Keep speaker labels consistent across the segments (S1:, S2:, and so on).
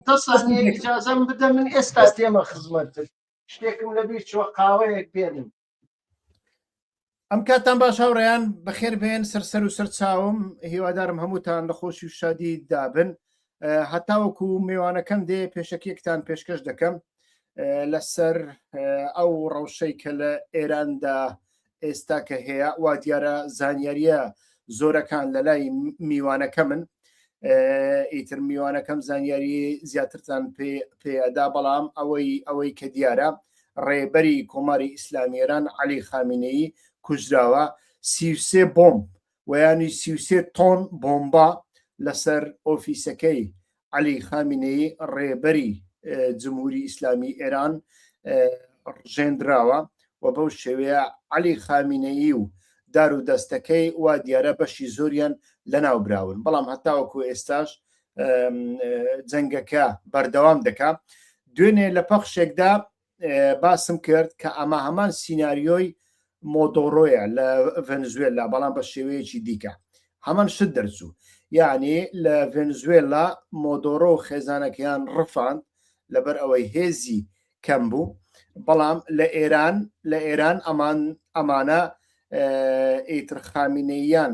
S1: دە سانیە
S2: ئیجازەم بدە من ئێستا تێمە خزمەتت شتێکم لەبیر چوە قاوەیەک پێنم ئەم کاتان باش هاوڕیان بەخێر بێن سەرسەر و سەر چاوم هیوادارم هەمووتان لە خۆشی و شادی دابن هەتاوەکو میوانەکەم دێ پێشەکیەکتان پێشکەش دەکەم لەسەر ئەو ڕەوشەی کە لە ئێراندا ئێستا کە هەیە وا دیارە زانیاریە زۆرەکان لە لای میوانەکە من ئیتر میوانەکەم زانیاری زیاترتان پێدا بەڵام ئەوەی ئەوەی کە دیارە ڕێبەری کۆماری ئیسلامیێران علی خامینەی کوژراوە سیسێ بۆم وەیانی سی و سێ تۆن بۆمبا لەسەر ئۆفیسەکەی عەلی خامینەی ڕێبەری جمهوری ئیسلامی ئێران ڕژێندراوە و بەو شێوەیە عەلی خامینەیی و دار و دەستەکەی وا دیارە بەشی زۆریان لەناو براون بەڵام هەتاوەکو ئێستاش جەنگەکە بەردەوام دەکا دوێنێ لە پەخشێکدا باسم کرد کە ئەمە هەمان سینناریۆی مۆدۆڕۆیە لە ڤەنزوێلا بەڵام بە شێوەیەکی دیکە هەمان شت دەرچوو یعنی لە ڤەنزوێلا مۆدۆرۆ و خێزانەکەیان ڕفاند لەبەر ئەوەی هێزی کەم بوو بەڵام لە ئێران لە ئێران ئەمان ئەمانە ئیترخامینەیان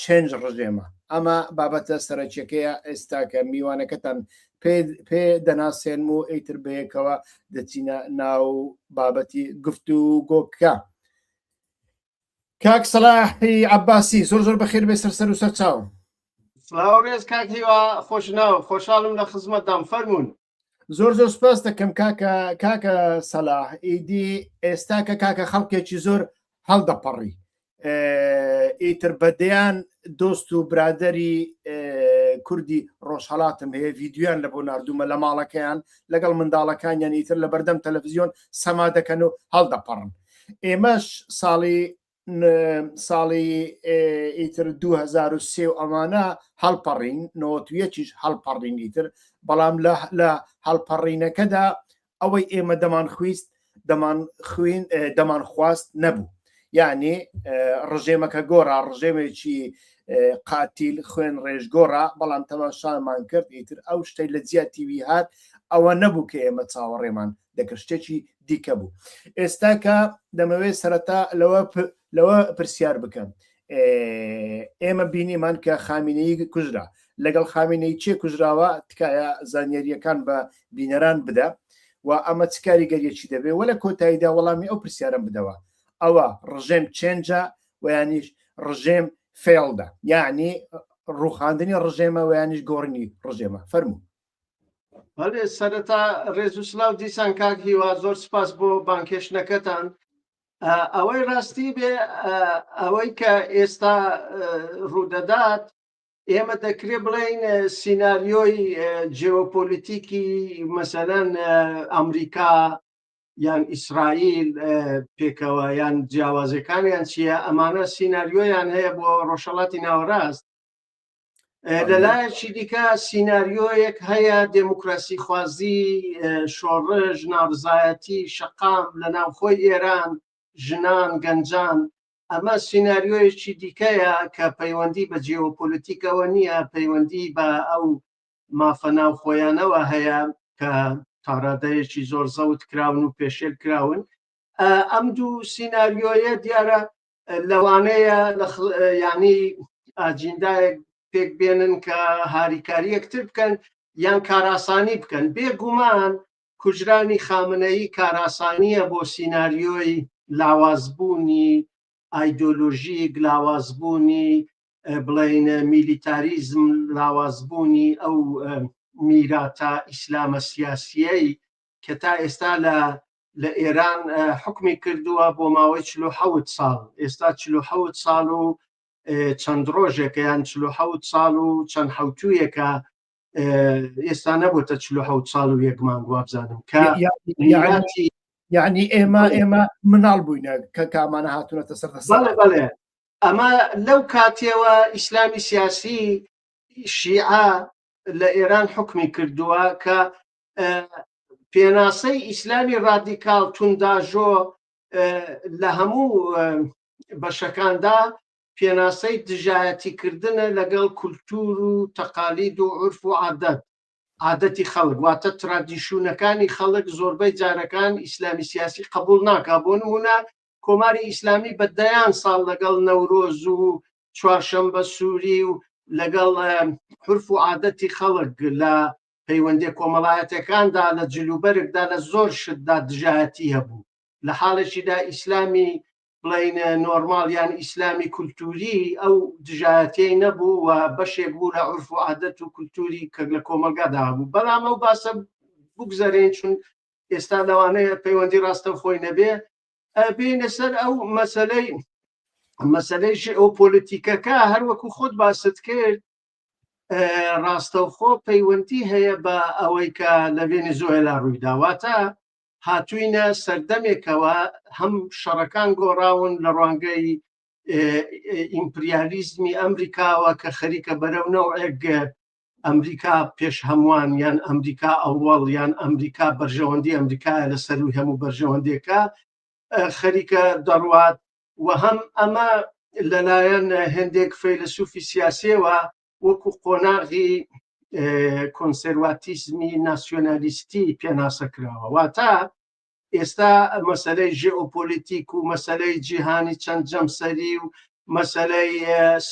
S2: چەنج ڕژێمە ئەمە بابەتە سەرەکیەکەیە ئێستا کە میوانەکەتان پێ دەناسێنم و ئەیتر بەیەکەوە دەچینە ناو بابەتی گفت و گۆکە کاک سەلاحی عباسی زۆر زۆر بەخێر بێ سەر سەر و سەر چاوم سلااو ڕێز
S1: کاک هیوا خۆش ناو خۆشحاڵم لە خزمەتدام فەرمونون زۆر زۆر
S2: سپاس دەکەم کاکە کاکە سەلاح ئیدی ئێستا کە کاکە خەڵکێکی زۆر هەڵدەپەڕی ئیتر بەدەیان دۆست و برادری کوردی ڕۆژهڵاتم هەیە ڤیددیویان لە بۆ نردومە لە ماڵەکەیان لەگەڵ منداڵەکانیان ئیتر لە بەردەم تەلەڤزیۆن سەما دەکەن و هەڵدەپەڕن ئێمەش ساڵی ساڵی ئیتر 2023 و ئەمانە هەڵپەڕین نۆتویەکیش هەڵپەڕین ئیتر بەڵام لە هەڵپەڕینەکەدا ئەوەی ئێمە دەمان خویست دەمان خوین دەمان خواست نەبوو یعنی ڕژێمەکە گۆرا ڕژێمێکی قاتیل خوێن ڕێژگۆڕا بەڵام تەماشامان کرد ئیتر ئەو شتەی لە جیاتیوی هات ئەوە نەبوو کە ئێمە چاوەڕێمان دەکرد شتێکی دیکە بوو ئێستا کە دەمەوێت سەرەتا لەوە لەوە پرسیار بکەم ئێمە بینیمان کە خامینەی کوژرا لەگەڵ خامینەی چێ کوژراوە تکایە زانیاریەکان بە بینەران بدە و ئەمە چ کاریگەریەکی دەبێ وە لە کۆتاییدا وەڵامی ئەو پرسیارم بدەوە ئەوە ڕژێم چێنجە ویانیش ڕژێم فێڵدا یعنی ڕوخاندنی ڕژێمە ویانیش گۆڕنی ڕژێمە فەرموو بەێ
S1: سەرەتا ڕێز و سلااو دیسان کاک هیوا زۆر سپاس بۆ بانکێشتەکەتان ئەوەی ڕاستی بێ ئەوەی کە ئێستا ڕوودەدات ئێمە دەکرێ بڵین سینناریۆی جیۆپۆلیتیکی مەسەەن ئەمریکا یان ئیسرائیل پێکەوە یان جیاوازەکانیان چییە ئەمانە سینناریۆیان هەیە بۆ ڕۆژەڵاتی ناوەڕاست لەلایەکی دیکە سینناریۆیەک هەیە دێموکراسی خوازی شۆڕژ نابزایەتی شەقام لە ناوخۆی ئێران ژنان گەنجان ئەمە سینناریۆیەکی دیکەیە کە پەیوەندی بە جیۆپۆلیتیکەوە نییە پەیوەندی بە ئەو مافە ناوخۆیانەوە هەیە کە تاڕادەیەکی زۆر زەوت کراون و پێشێل کراون ئەم دوو سینناریۆیە دیارە لەوانەیە لە ینی ئاجیندایەک پێک بێنن کە هاریکاری یەکتر بکەن یان کاراسانی بکەن بێگومان کوژرانی خامنەی کاراسانیە بۆ سینناریۆی لاوازبوونی ئایدۆلۆژی گلاوازبوونی بڵین میلیتاریزم لاوازبوونی ئەو میراتە ئیسلامە سیاسیەی کە تا ئێستا لە لە ئێران حکمی کردووە بۆ ماوەی چلو حەوت ساڵ ئێستا چلو حەوت ساڵ و چەند ڕۆژێکەیان چلو حەوت ساڵ و چەند حوتویەکە ئێستا نەبووتە چلو حەوت ساڵ و یەکمان وابزانم کە
S2: یعنی ئێمە ئێمە مناڵ بووینە کە کامانە هاتوونەتە سەر بڵێ
S1: ئەمە لەو کاتێەوە ئیسلامی سیاسی شیعە لە ئێران حکمی کردووە کە پێناسەی ئیسلامی ڕادیکال تونداژۆ لە هەموو بەشەکاندا پێناسەی دژایەتیکردنە لەگەڵ کولتور و تەقالید و عرف و عادەت عادەتی خەڵک واتە ترادیشونەکانی خەڵک زۆربەی جارەکان ئیسلامی سیاسی قبول ناکا بۆ نمونە کۆماری ئیسلامی بە دەیان ساڵ لەگەڵ نەورۆز و چوارشەمبە سووری و لەگەڵ حرف و عادەتی خەڵک لە پەیوەندیە کۆمەڵایەتەکاندا لە جلوبەرگدا لە زۆر شتدا دژایەتی هەبوو لە حاڵێکیدا ئیسلامی بڵین نۆرمال یان ئیسلامی کولتوری ئەو دژایەتی نەبوو و بەشێک بوو لە عرف و عادەت و کولتوری کە لە کۆمەلگادا هەبوو بەڵام ئەو باسە بگوزارێن چون ئێستا لەوانەیە پەیوەندی ڕاستە خۆی نەبێ بینە سەر ئەو مەسلەی مەسلەی ژئۆپۆلیتیکەکە هەروەکو خۆت باست کرد ڕاستەوخۆ پەیوەندی هەیە بە ئەوەی کە لە ڤێنیزۆێلا ڕوویداواتە هاتوینە سەردەمێکەوە هەم شەڕەکان گۆڕاون لە ڕوانگەی ئیمپریالیزمی ئەمریکاوە کە خەریکە بەرەو نەوەک ئەمریکا پێش هەمووان یان ئەمریکا ئەوەڵ یان ئەمریکا بەرژەوەندی ئەمریکا لە سەروی هەموو بەرژەوەندێکە خەریکە دەڕوات و هەم ئەمە لەلایەن هەندێک فەیلەسوفی سیاسیەوە وەکو قۆناغی کۆنسەرواتیزمی ناسیۆنالیستی پێناسە کراوە واتە ئێستا مەسلەی ژێئۆپۆلیتیک و مەسلەی جیهانی چەند جەمسەری و مەسلەی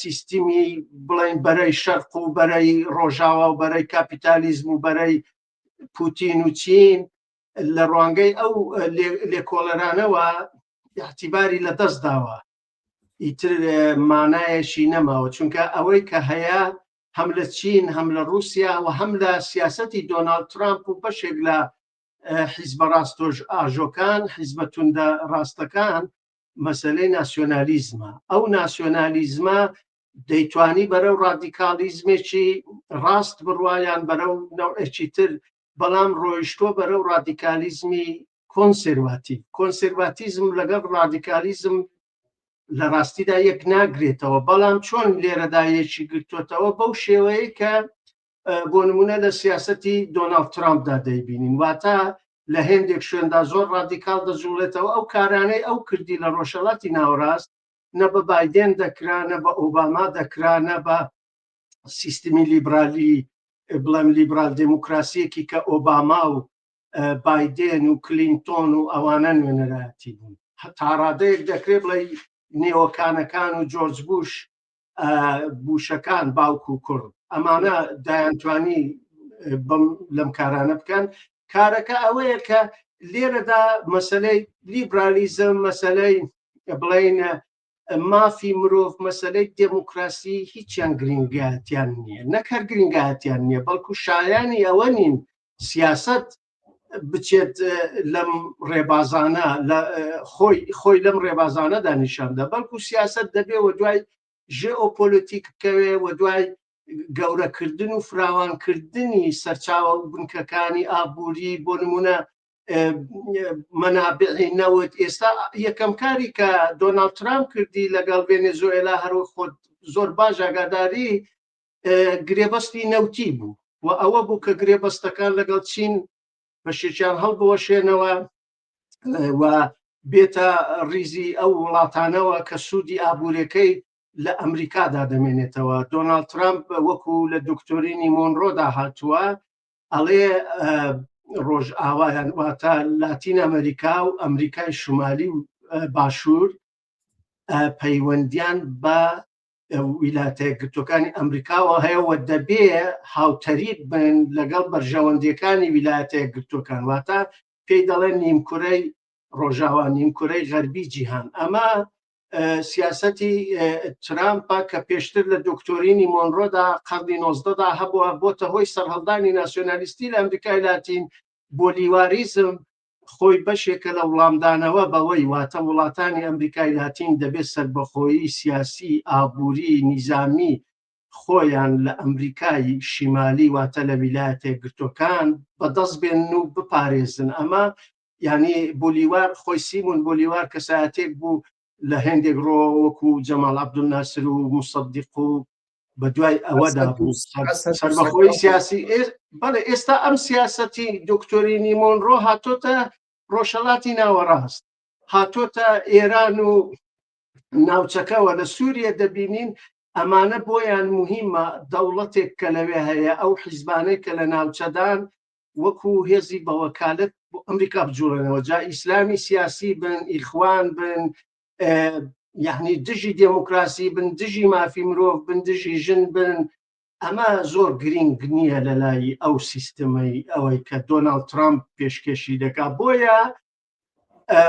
S1: سیستمی بڵین بەرەی شەرق و بەرەی ڕۆژاوا و بەرەی کاپیتالیزم و بەرەی پوتین و چین لە ڕوانگەی ئەو لێکۆڵەرانەوە ئیعتیباری لە دەست داوە ئیتر مانایەکی نەماوە چونکە ئەوەی کە هەیە هەم لە چین هەم لە رووسیا و هەم لە سیاستی دۆناالد ترامپ و بەشێک لە حیزبە ڕاستۆژ ئاژۆکان حیزبە توندە ڕاستەکان مەسلەی ناسیۆنالیزمە ئەو ناسیۆنالیزمە دەیتوانی بەرەو ڕادیکالیزمێکی ڕاست بڕواان بەرەو نەوەکی تر بەڵام ڕۆیشتووە بەرەو ڕادیکالیزمی کۆنسێرواتیڤ کۆنسێرواتیزم لەگەڵ ڕادیکالیزم لە ڕاستیدا یەک ناگرێتەوە بەڵام چۆن لێرەدا یەکی گرتوتەوە بەو شێوەیە کە بۆ نمونە لە سیاستی دۆناڵد ترامپدا دەیبینین واتە لە هێندێک شوێندا زۆر ڕادیکال دەجوڵێتەوە ئەو کارانەی ئەو کردی لە ڕۆژهڵاتی ناوەڕاست نە بە بادێن دەکرا نە بە ئۆباما دەکرا نە بە سیستمی لیبرالی بڵێم لیبرال دموکراسیەکی کە ئۆباما و بادێن و کلینتۆن و ئەوانە نوێنەرایەتی بوون تاڕادەیەک دەکرێ بڵێ نێوەکانەکان و جۆرج بوش بوشەکان باوک و کوڕ ئەمانە دایانتوانی بم لەم کارانە بکەن کارەکە ئەوەیە کە لێرەدا مەسلەی لیبرالیزم مەسلەی بڵین مافی مرۆڤ مەسلەی دموکراسی هیچیان گرنگاتیان نییە نەک هەر گرنگاتیان نییە بەڵکو شایانی ئەوە نین سیاست بچێت لەم ڕێبازانە لە خۆی خۆی لەم ڕێبازانەدا نیشاندا بەڵکو سیاست دەبێ و دوای ژێئۆپۆلۆتیک بکەوێ و دوای گەورەکردن و فراوانکردنی سەرچاوە و بنکەکانی ئابووری بۆ نمونە مەنابعی نەوت ئێستا یەکەم کاری کە دۆناڵ ترامپ کردی لەگەڵ ڤێنێزۆێلا هەروە خۆت زۆر باش ئاگاداری گرێبەستی نەوتی بوو و ئەوە بوو کە گرێبەستەکان لەگەڵ چین بەشێکیان هەڵبوەشێنەوە و بێتە ریزی ئەو وڵاتانەوە کە سوودی ئابوورەکەی لە ئەمریکادا دەمێنێتەوە دۆناالد ترامپ وەکو لە دکتۆرینی مۆنرۆدا هاتووە ئەڵێ ڕۆژ ئاوایان واتە لاتین ئەمریکا و ئەمریکای شمالی و باشوور پەیوەندیان بە ویلاتە گرتوەکانی ئەمریکاوە هەیە و دەبێ هاوتەریب بن لەگەڵ بەرژەوەندەکانی ویلایەتە گرتوەکان واتە پێی دەڵێن نیمکورەی ڕۆژاوا نیمکورەی غەربی جیهان ئەمە سیاسەتی ترامپە کە پێشتر لە دکتۆرینی مۆنرۆدا قەرنی نۆزدەدا هەبووە بۆتە هۆی سەرهەڵدانی ناسیۆنالیستی لە ئەمریکای لاتین بۆ لیواریزم خۆی بەشێکە لە وڵامدانەوە بەوەی واتە وڵاتانی ئەمریکای لاتین دەبێت سربەخۆیی سیاسی ئابووری نیزامی خۆیان لە ئەمریکای شیمالی واتە لە ویلایەتە گرتوەکان بەدەست بێن و بپارێزن ئەمە یانی بولیوار خۆی سیمون بولیوار کەسایەتێک بوو لە هێندێک ڕۆ وەکو جەماڵ عەبدولناسر و موسەدیق و بە دوای ئەوەدا بوو سەربەخۆی سیاسی بەڵێ ئێستا ئەم سیاسەتی دکتۆری نیمۆن ڕۆ هاتۆتە ڕۆژهڵاتی ناوەڕاست هاتۆتە ئێران و ناوچەکەەوە لە سووریە دەبینین ئەمانە بۆیان مهمە دەوڵەتێک کە لەوێ هەیە ئەو حیزبانەی کە لە ناوچەدان وەکو هێزی بەوەکالت بۆ ئەمریکا بجوڵێنەوە جا ئیسلامی سیاسی بن ئیخوان بن یعنی دژی دێموکراسی بن دژی مافی مرۆڤ بن دژی ژن بن ئەمە زۆر گرنگ نییە لە لای ئەو سیستمەی ئەوەی کە دۆناالد ترامپ پێشکەشی دەکا بۆیە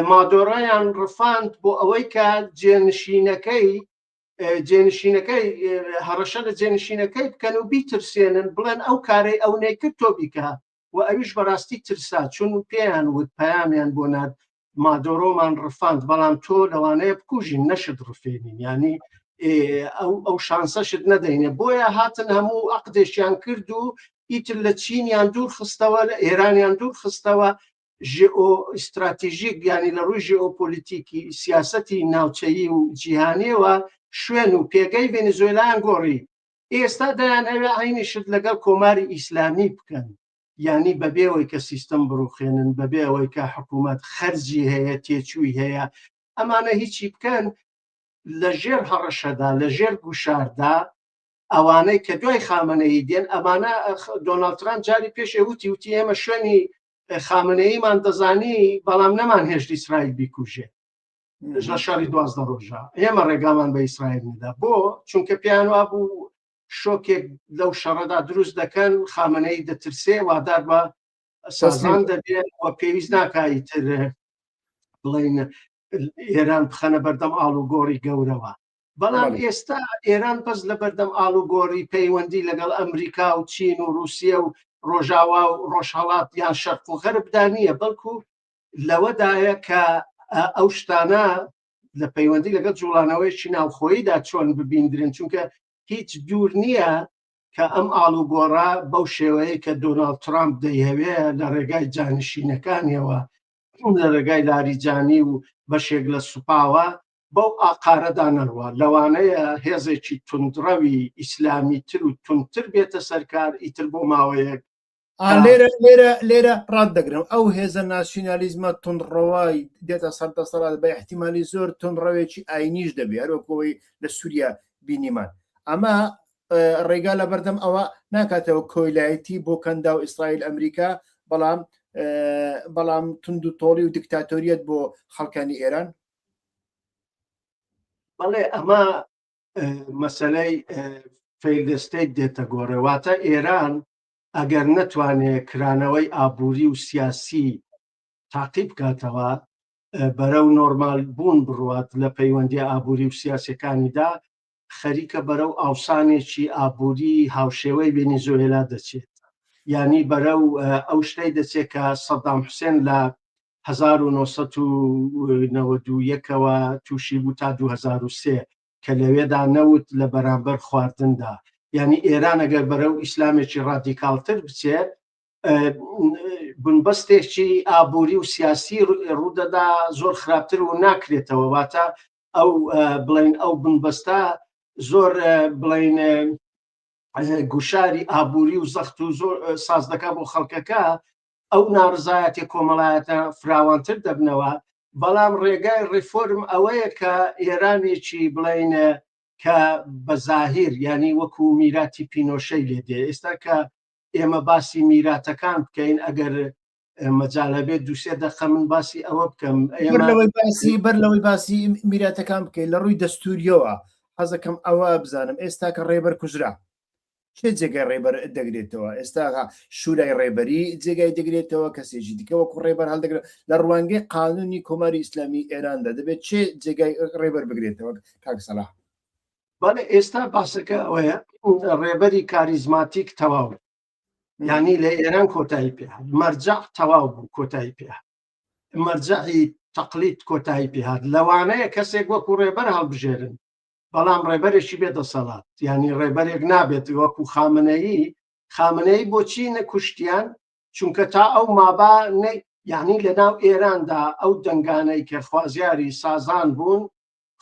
S1: مادۆڕیان ڕفاند بۆ ئەوەی کە جێنشینەکەی جێنشینەکەی هەڕەشە لە جێنشینەکەی بکەن و بیترسێنن بڵێن ئەو کارەی ئەو نەیکرد تۆ بیکە و ئەویش بەڕاستی ترسا چون پێیان وت پەیامیان بۆ نات مادۆرۆمان ڕفاند بەڵام تۆ لەوانەیە بکوژین نەشت ڕفێنین ینی ئەو ئەو شانسەشت نەدەینێ بۆیە هاتن هەموو عقدێکیان کرد و ئیتر لە چینیان دوور خستەوە لە ئێرانیان دوور خستەوە ژێئۆ ئیستراتیژیک یانی لە ڕووی ژێئۆپۆلیتیکی سیاسەتی ناوچەیی و جیهانیەوە شوێن و پێگەی ڤێنزۆیلایان گۆڕی ئێستا دەیان ئەوێ عینی شت لەگەڵ کۆماری ئیسلامی بکەن یانی بەبێ ئەوەی کە سیستم بڕوخێنن بەبێ ئەوەی کە حکوومەت خەرجی هەیە تێچووی هەیە ئەمانە هیچی بکەن لە ژێر هەڕەشەدا لە ژێر گوشاردا ئەوانەی کە دوای خامەنەی دێن ئەمانە دۆناڵتران جاری پێشێ وتی وتی ئێمە شوێنی خامنەیی مان دەزانی بەڵام نەمان هێشت ئیسرائیل بیکوژێ لە شاری دوازدە ڕۆژە ئێمە ڕێگامان بە ئیسرائیل ندا بۆ چونکە پیان وا بوو شۆکێک لەو شەڕەدا دروست دەکەن خامنەی دەترسێ وادار بە سازان دەبێت و پێویست ناکایی تر بڵین ئێران بخەنە بەردەم ئاڵوگۆڕی گەورەوە بەڵام ئێستا ئێران بەس لە بەردەم ئاڵوگۆڕی پەیوەندی لەگەڵ ئەمریکا و چین و رووسە و ڕۆژاوا و ڕۆژهڵات یان شەرق و غەربدا نییە بەڵکو لەوەدایە کە ئەو شتانە لە پەیوەندی لەگەڵ جوڵانەوەیکی ناوخۆییدا چۆن ببیندرن چونکە هیچ دوور نییە کە ئەم ئاڵوگۆڕە بەو شێوەیە کە دۆناالد ترامپ دەیهوێ لە ڕێگای جانشینەکانیەوە لە ڕێگای لاریجانی و بەشێک لە سوپاوە بەو ئاقارەدا نەڕوە لەوانەیە هێزێکی تونندڕەوی ئیسلامی تر و تونتر بێتە سەرکار ئیتر بۆ ماوەیەک لێرە لێرە
S2: لێرە ڕات دەگرم ئەو هێزە ناسیۆنالیزمە تونڕەوای دێتە سەر دەسەڵات بە احتیممالی زۆر تونڕەوێکی ئاینیش دەبێ هەروەکەوەی لە سووریا بینیمان ئەمە ڕێگا لەبەردەم ئەوە ناکاتەوە کۆیلایەتی بۆ کەندا و ئیسرائیل ئەمریکا بەڵام بەڵام تونند و تۆڵی و دکتاتۆریەت بۆ خەڵکانی ئێران
S1: بەڵێ ئەمە مەسلەی فەیلستەی دێتە گۆڕێواتە ئێران ئەگەر نەتوانێ کرانەوەی ئابووری و سیاسی تاقی بکاتەوە بەرەو نۆرمال بوون بڕات لە پەیوەندی ئابووری و سیاسەکانیدا خەریکە بەرەو ئاوسانێکی ئابووری هاوشێوەی ڤێنیزۆێلا دەچێت یانی بەرەو ئەو شتەی دەچێت کە سەدام حوسێن لە 1990ەوە تووشی بوو تا 2023 کە لەوێدا نەوت لە بەرامبەر خواردندا یعنی ئێران ئەگەر بەرە و ئیسلامێکی ڕادیکالتر بچێت بنبەستێکی ئابووری و سیاسی ڕوودەدا زۆر خراپتر و ناکرێتەوە واتە ئەو بڵین ئەو بنبەستە زۆر بڵین گوشاری ئابووری و زەخت و زۆر ساز دەکا بۆ خەڵکەکە ئەو ناڕزایەتی کۆمەڵایەتە فراوانتر دەبنەوە بەڵام ڕێگای ڕیفۆرم ئەوەیە کە ئێرانێکی بڵین کە بە زاهیر ینی وەکو میراتی پینۆشەی لێ دێ ئێستا کە ئێمە باسی میراتەکان بکەین ئەگەر مەجال هەبێت دوسێ دەقە من باسی ئەوە بکەم باسی
S2: بەر لەوەی باسی میراتەکان بکەین لە ڕووی دەستوریەوە حەزەکەم ئەوە بزانم ئێستا کە ڕێبەر کوژرا چێ جێگای ڕێبەر دەگرێتەوە ئێستاغا شوورای ڕێبەری جێگای دەگرێتەوە کەسێکی دیکەوە کو ڕێبەر هەڵدەگرێت لە ڕوانگەی قانونی کۆماری ئیسلامی ئێراندا دەبێت چێ جێگای ڕێبەر بگرێتەوە کاکسەلا بەڵێ
S1: ئێستا باسەکە ئەوەیە ڕێبەری کاریزماتیک تەواو یعنی لە ئێران کۆتایی پێ مەرجع تەواو بوو کۆتایی پێ مەرجعی تەقلیت کۆتایی پێهات لەوانەیە کەسێک وەکو ڕێبەر هەڵبژێرن بەڵام ڕێبەرێکی بێ دەسەڵات ینی ڕێبەرێک نابێت وەکو خامنەیی خامنەیی بۆچی نەکوشتیان چونکە تا ئەو مابا یعنی لە ناو ئێراندا ئەو دەنگانەی کە خوازیاری سازان بوون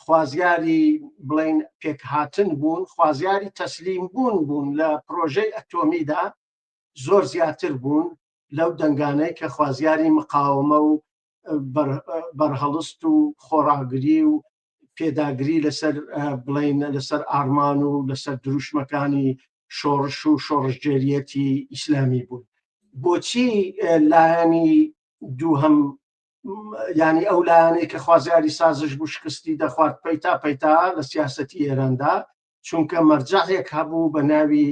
S1: خوازیاری بڵین پێکهاتن بوون خوازیاری تەسلیم بوون بوون لە پرۆژەی ئەتۆمیدا زۆر زیاتر بوون لەو دەنگانەی کە خوازیاری مقاومە و بەرهەڵست و خۆڕاگری و پێداگری لەسەر بڵین لەسەر ئارمان و لەسەر دروشمەکانی شۆڕش و شۆڕشگێریەتی ئیسلامی بوون بۆچی لایەنی دووهم ینی ئەو لایەنەی کە خوازیاری سازش بوو شکستی دەخوارد پەیتا پەیتا لە سیاستی ئێراندا چونکە مەرجەێک هەبوو بە ناوی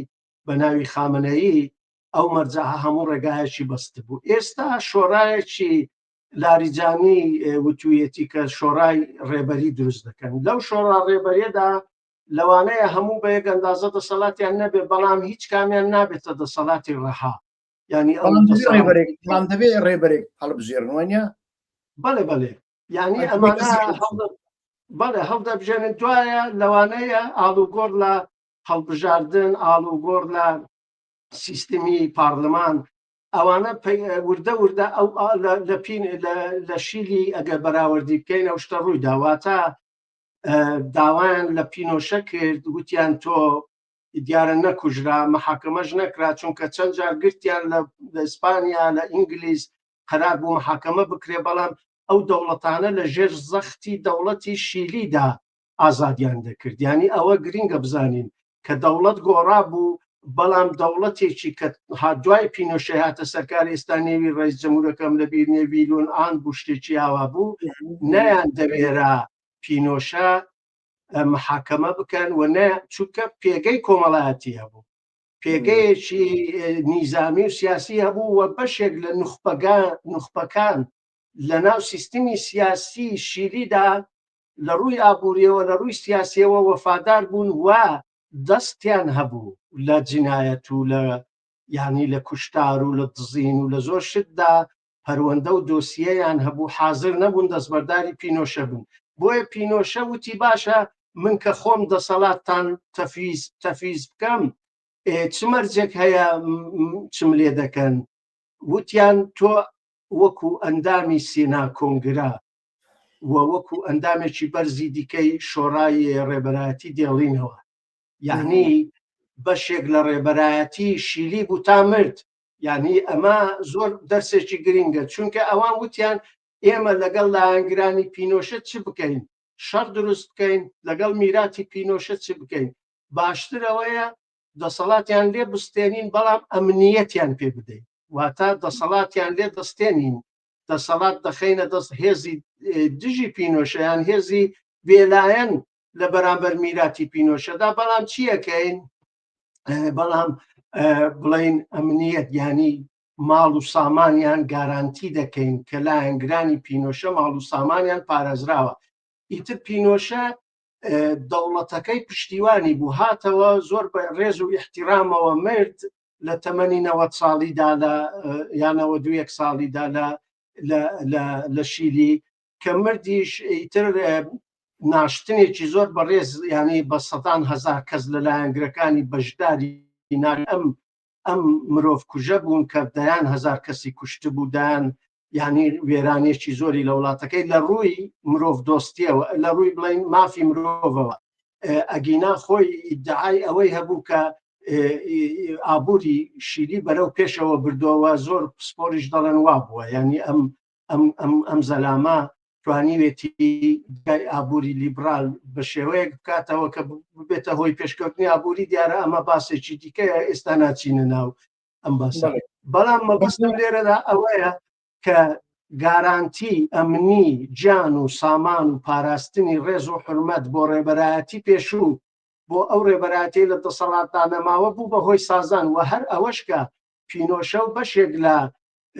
S1: بە ناوی خامنەیی ئەو مەرجە هەموو ڕێگایەکی بەست بوو ئێستا شۆرایەکی لاریجانی وتویەتی کە شۆرای ڕێبەری دروست دەکەن لەو شۆڕا ڕێبەرێدا لەوانەیە هەموو بەیەک ئەندازە دەسەڵاتیان نەبێت بەڵام هیچ کامیان نابێتە دەسەڵاتی ڕەها ینی
S2: دەبێ ڕێبەرێک هەڵبژێرنوانە بەڵێ
S1: بەڵێ ینی ئەمانە بەڵێ هەڵدە بژێنن دوایە لەوانەیە ئاڵوگۆڕ لە هەڵبژاردن ئاڵوگۆڕ لە سیستمی پارلمان ئەوانە وردە وردە ئەو لە پین لە شیلی ئەگەر بەراوردی بکەین ئەو شتە ڕووی داواتە داوایان لە پینۆشە کرد وتیان تۆ دیارە نەکوژرا محاکەمەش نەکرا چونکە چەند جار گرتیان لە ئیسپانیا لە ئینگلیز قەرار بوو محاکەمە بکرێ بەڵام ئەو دەوڵەتانە لە ژێر زەختی دەوڵەتی شیلیدا ئازادیان دەکرد ینی ئەوە گرینگە بزانین کە دەوڵەت گۆڕا بوو بەڵام دەوڵەتێکی کە هادوای پینۆشە هاتە سەرکاری ئێستا نێوی ڕێز جمهورەکەم لە بیر نێویلون ئان بوو شتێکی ئاوا بوو نەیان دەوێرا پینۆشە محاکەمە بکەن و نە چونکە پێگەی کۆمەڵایەتی هەبوو پێگەیەکی نیزامی و سیاسی هەبوو و بەشێک لە نخبەگە نخبەکان لە ناو سیستمی سیاسی شیریدا لە ڕووی ئابووریەوە لە ڕووی سیاسیەوە وەفادار بوون و دەستیان هەبوو لە جنایەت و لە ینی لە کوشتار و لە دزین و لە زۆر شتدا پەروەندە و دۆسیەیان هەبوو حازر نەبوون دەستبەرداری پینۆشە بن بۆیە پینۆشە وتی باشە من کە خۆم دەسەڵاتتان تەفیز تەفیز بکەم چ مەرجێک هەیە چم لێ دەکەن وتیان تۆ وەکو ئەندامی سینا کۆنگرا و وەکو ئەندامێکی بەرزی دیکەی شۆڕای ڕێبەرایەتی دێڵینەوە یعنی بەشێک لە ڕێبەرایەتی شیلی بوو تا مرد یعنی ئەمە زۆر دەرسێکی گرنگە چونکە ئەوان وتیان ئێمە لەگەڵ لایەنگرانی پینۆشە چ بکەین شەڕ دروست بکەین لەگەڵ میراتی پینۆشە چ بکەین باشترەوەیە دەسەڵاتیان لێ بستێنین بەڵام ئەمنیەتیان پێ بدەین واتە دەسەڵاتیان لێ دەستێنین دەسەڵات دەخینە دەست هێزی دژی پینۆشەیان هێزی بێلایەن لە بەرامبەر میراتی پینۆشەدا بەڵام چیەکەین بەڵام بڵین ئەمنیەت ینی ماڵ و سامانیان گارانتی دەکەین کە لایەنگرانی پینۆشە ماڵ و سامانیان پارێزراوە ئیتر پینۆشە دەوڵەتەکەی پشتیوانی بوو هاتەوە زۆر بە ڕێز و احتیرامەوە مرد لە تەمەنی نەوە ساڵیدا لە یانەوە دو یەک ساڵیدا لە لە شیلی کە مردیش ئیتر ناشتنێکی زۆر بەڕێز یانەی بە سەدان هزار کەس لە لایەنگرەکانی بەشداری ئینار ئەم ئەم مرۆڤ کوژە بوون کە دەیان هزار کەسی کوشت بوودان یعنی وێرانێکی زۆری لە وڵاتەکەی لە ڕووی مرۆڤ دۆستیەوە لە ڕووی بڵین مافی مرۆڤەوە ئەگینا خۆی ئیدعای ئەوەی هەبوو کە ئابووری شیری بەرەو پێشەوە بردەوە زۆر پسپۆریش دەڵێن وا بووە ینی ئەم ئەم زەلامە توانیوێتی گای ئابووری لیبرال بە شێوەیەک بکاتەوە کە ببێتە هۆی پێشکەوتنی ئابووری دیارە ئەمە باسێکی دیکەیە ئێستا ناچینە ناو ئەم باسە بەڵام مەبستم لێرەدا ئەوەیە کە گارانتی ئەمنی جان و سامان و پاراستنی ڕێز و حرمەت بۆ ڕێبەرایەتی پێشوو بۆ ئەو ڕێبەراتی لە دەسەڵاتدانەماوە بوو بە هۆی سازان و هەر ئەوەشکە پینۆشە و بەشێک لە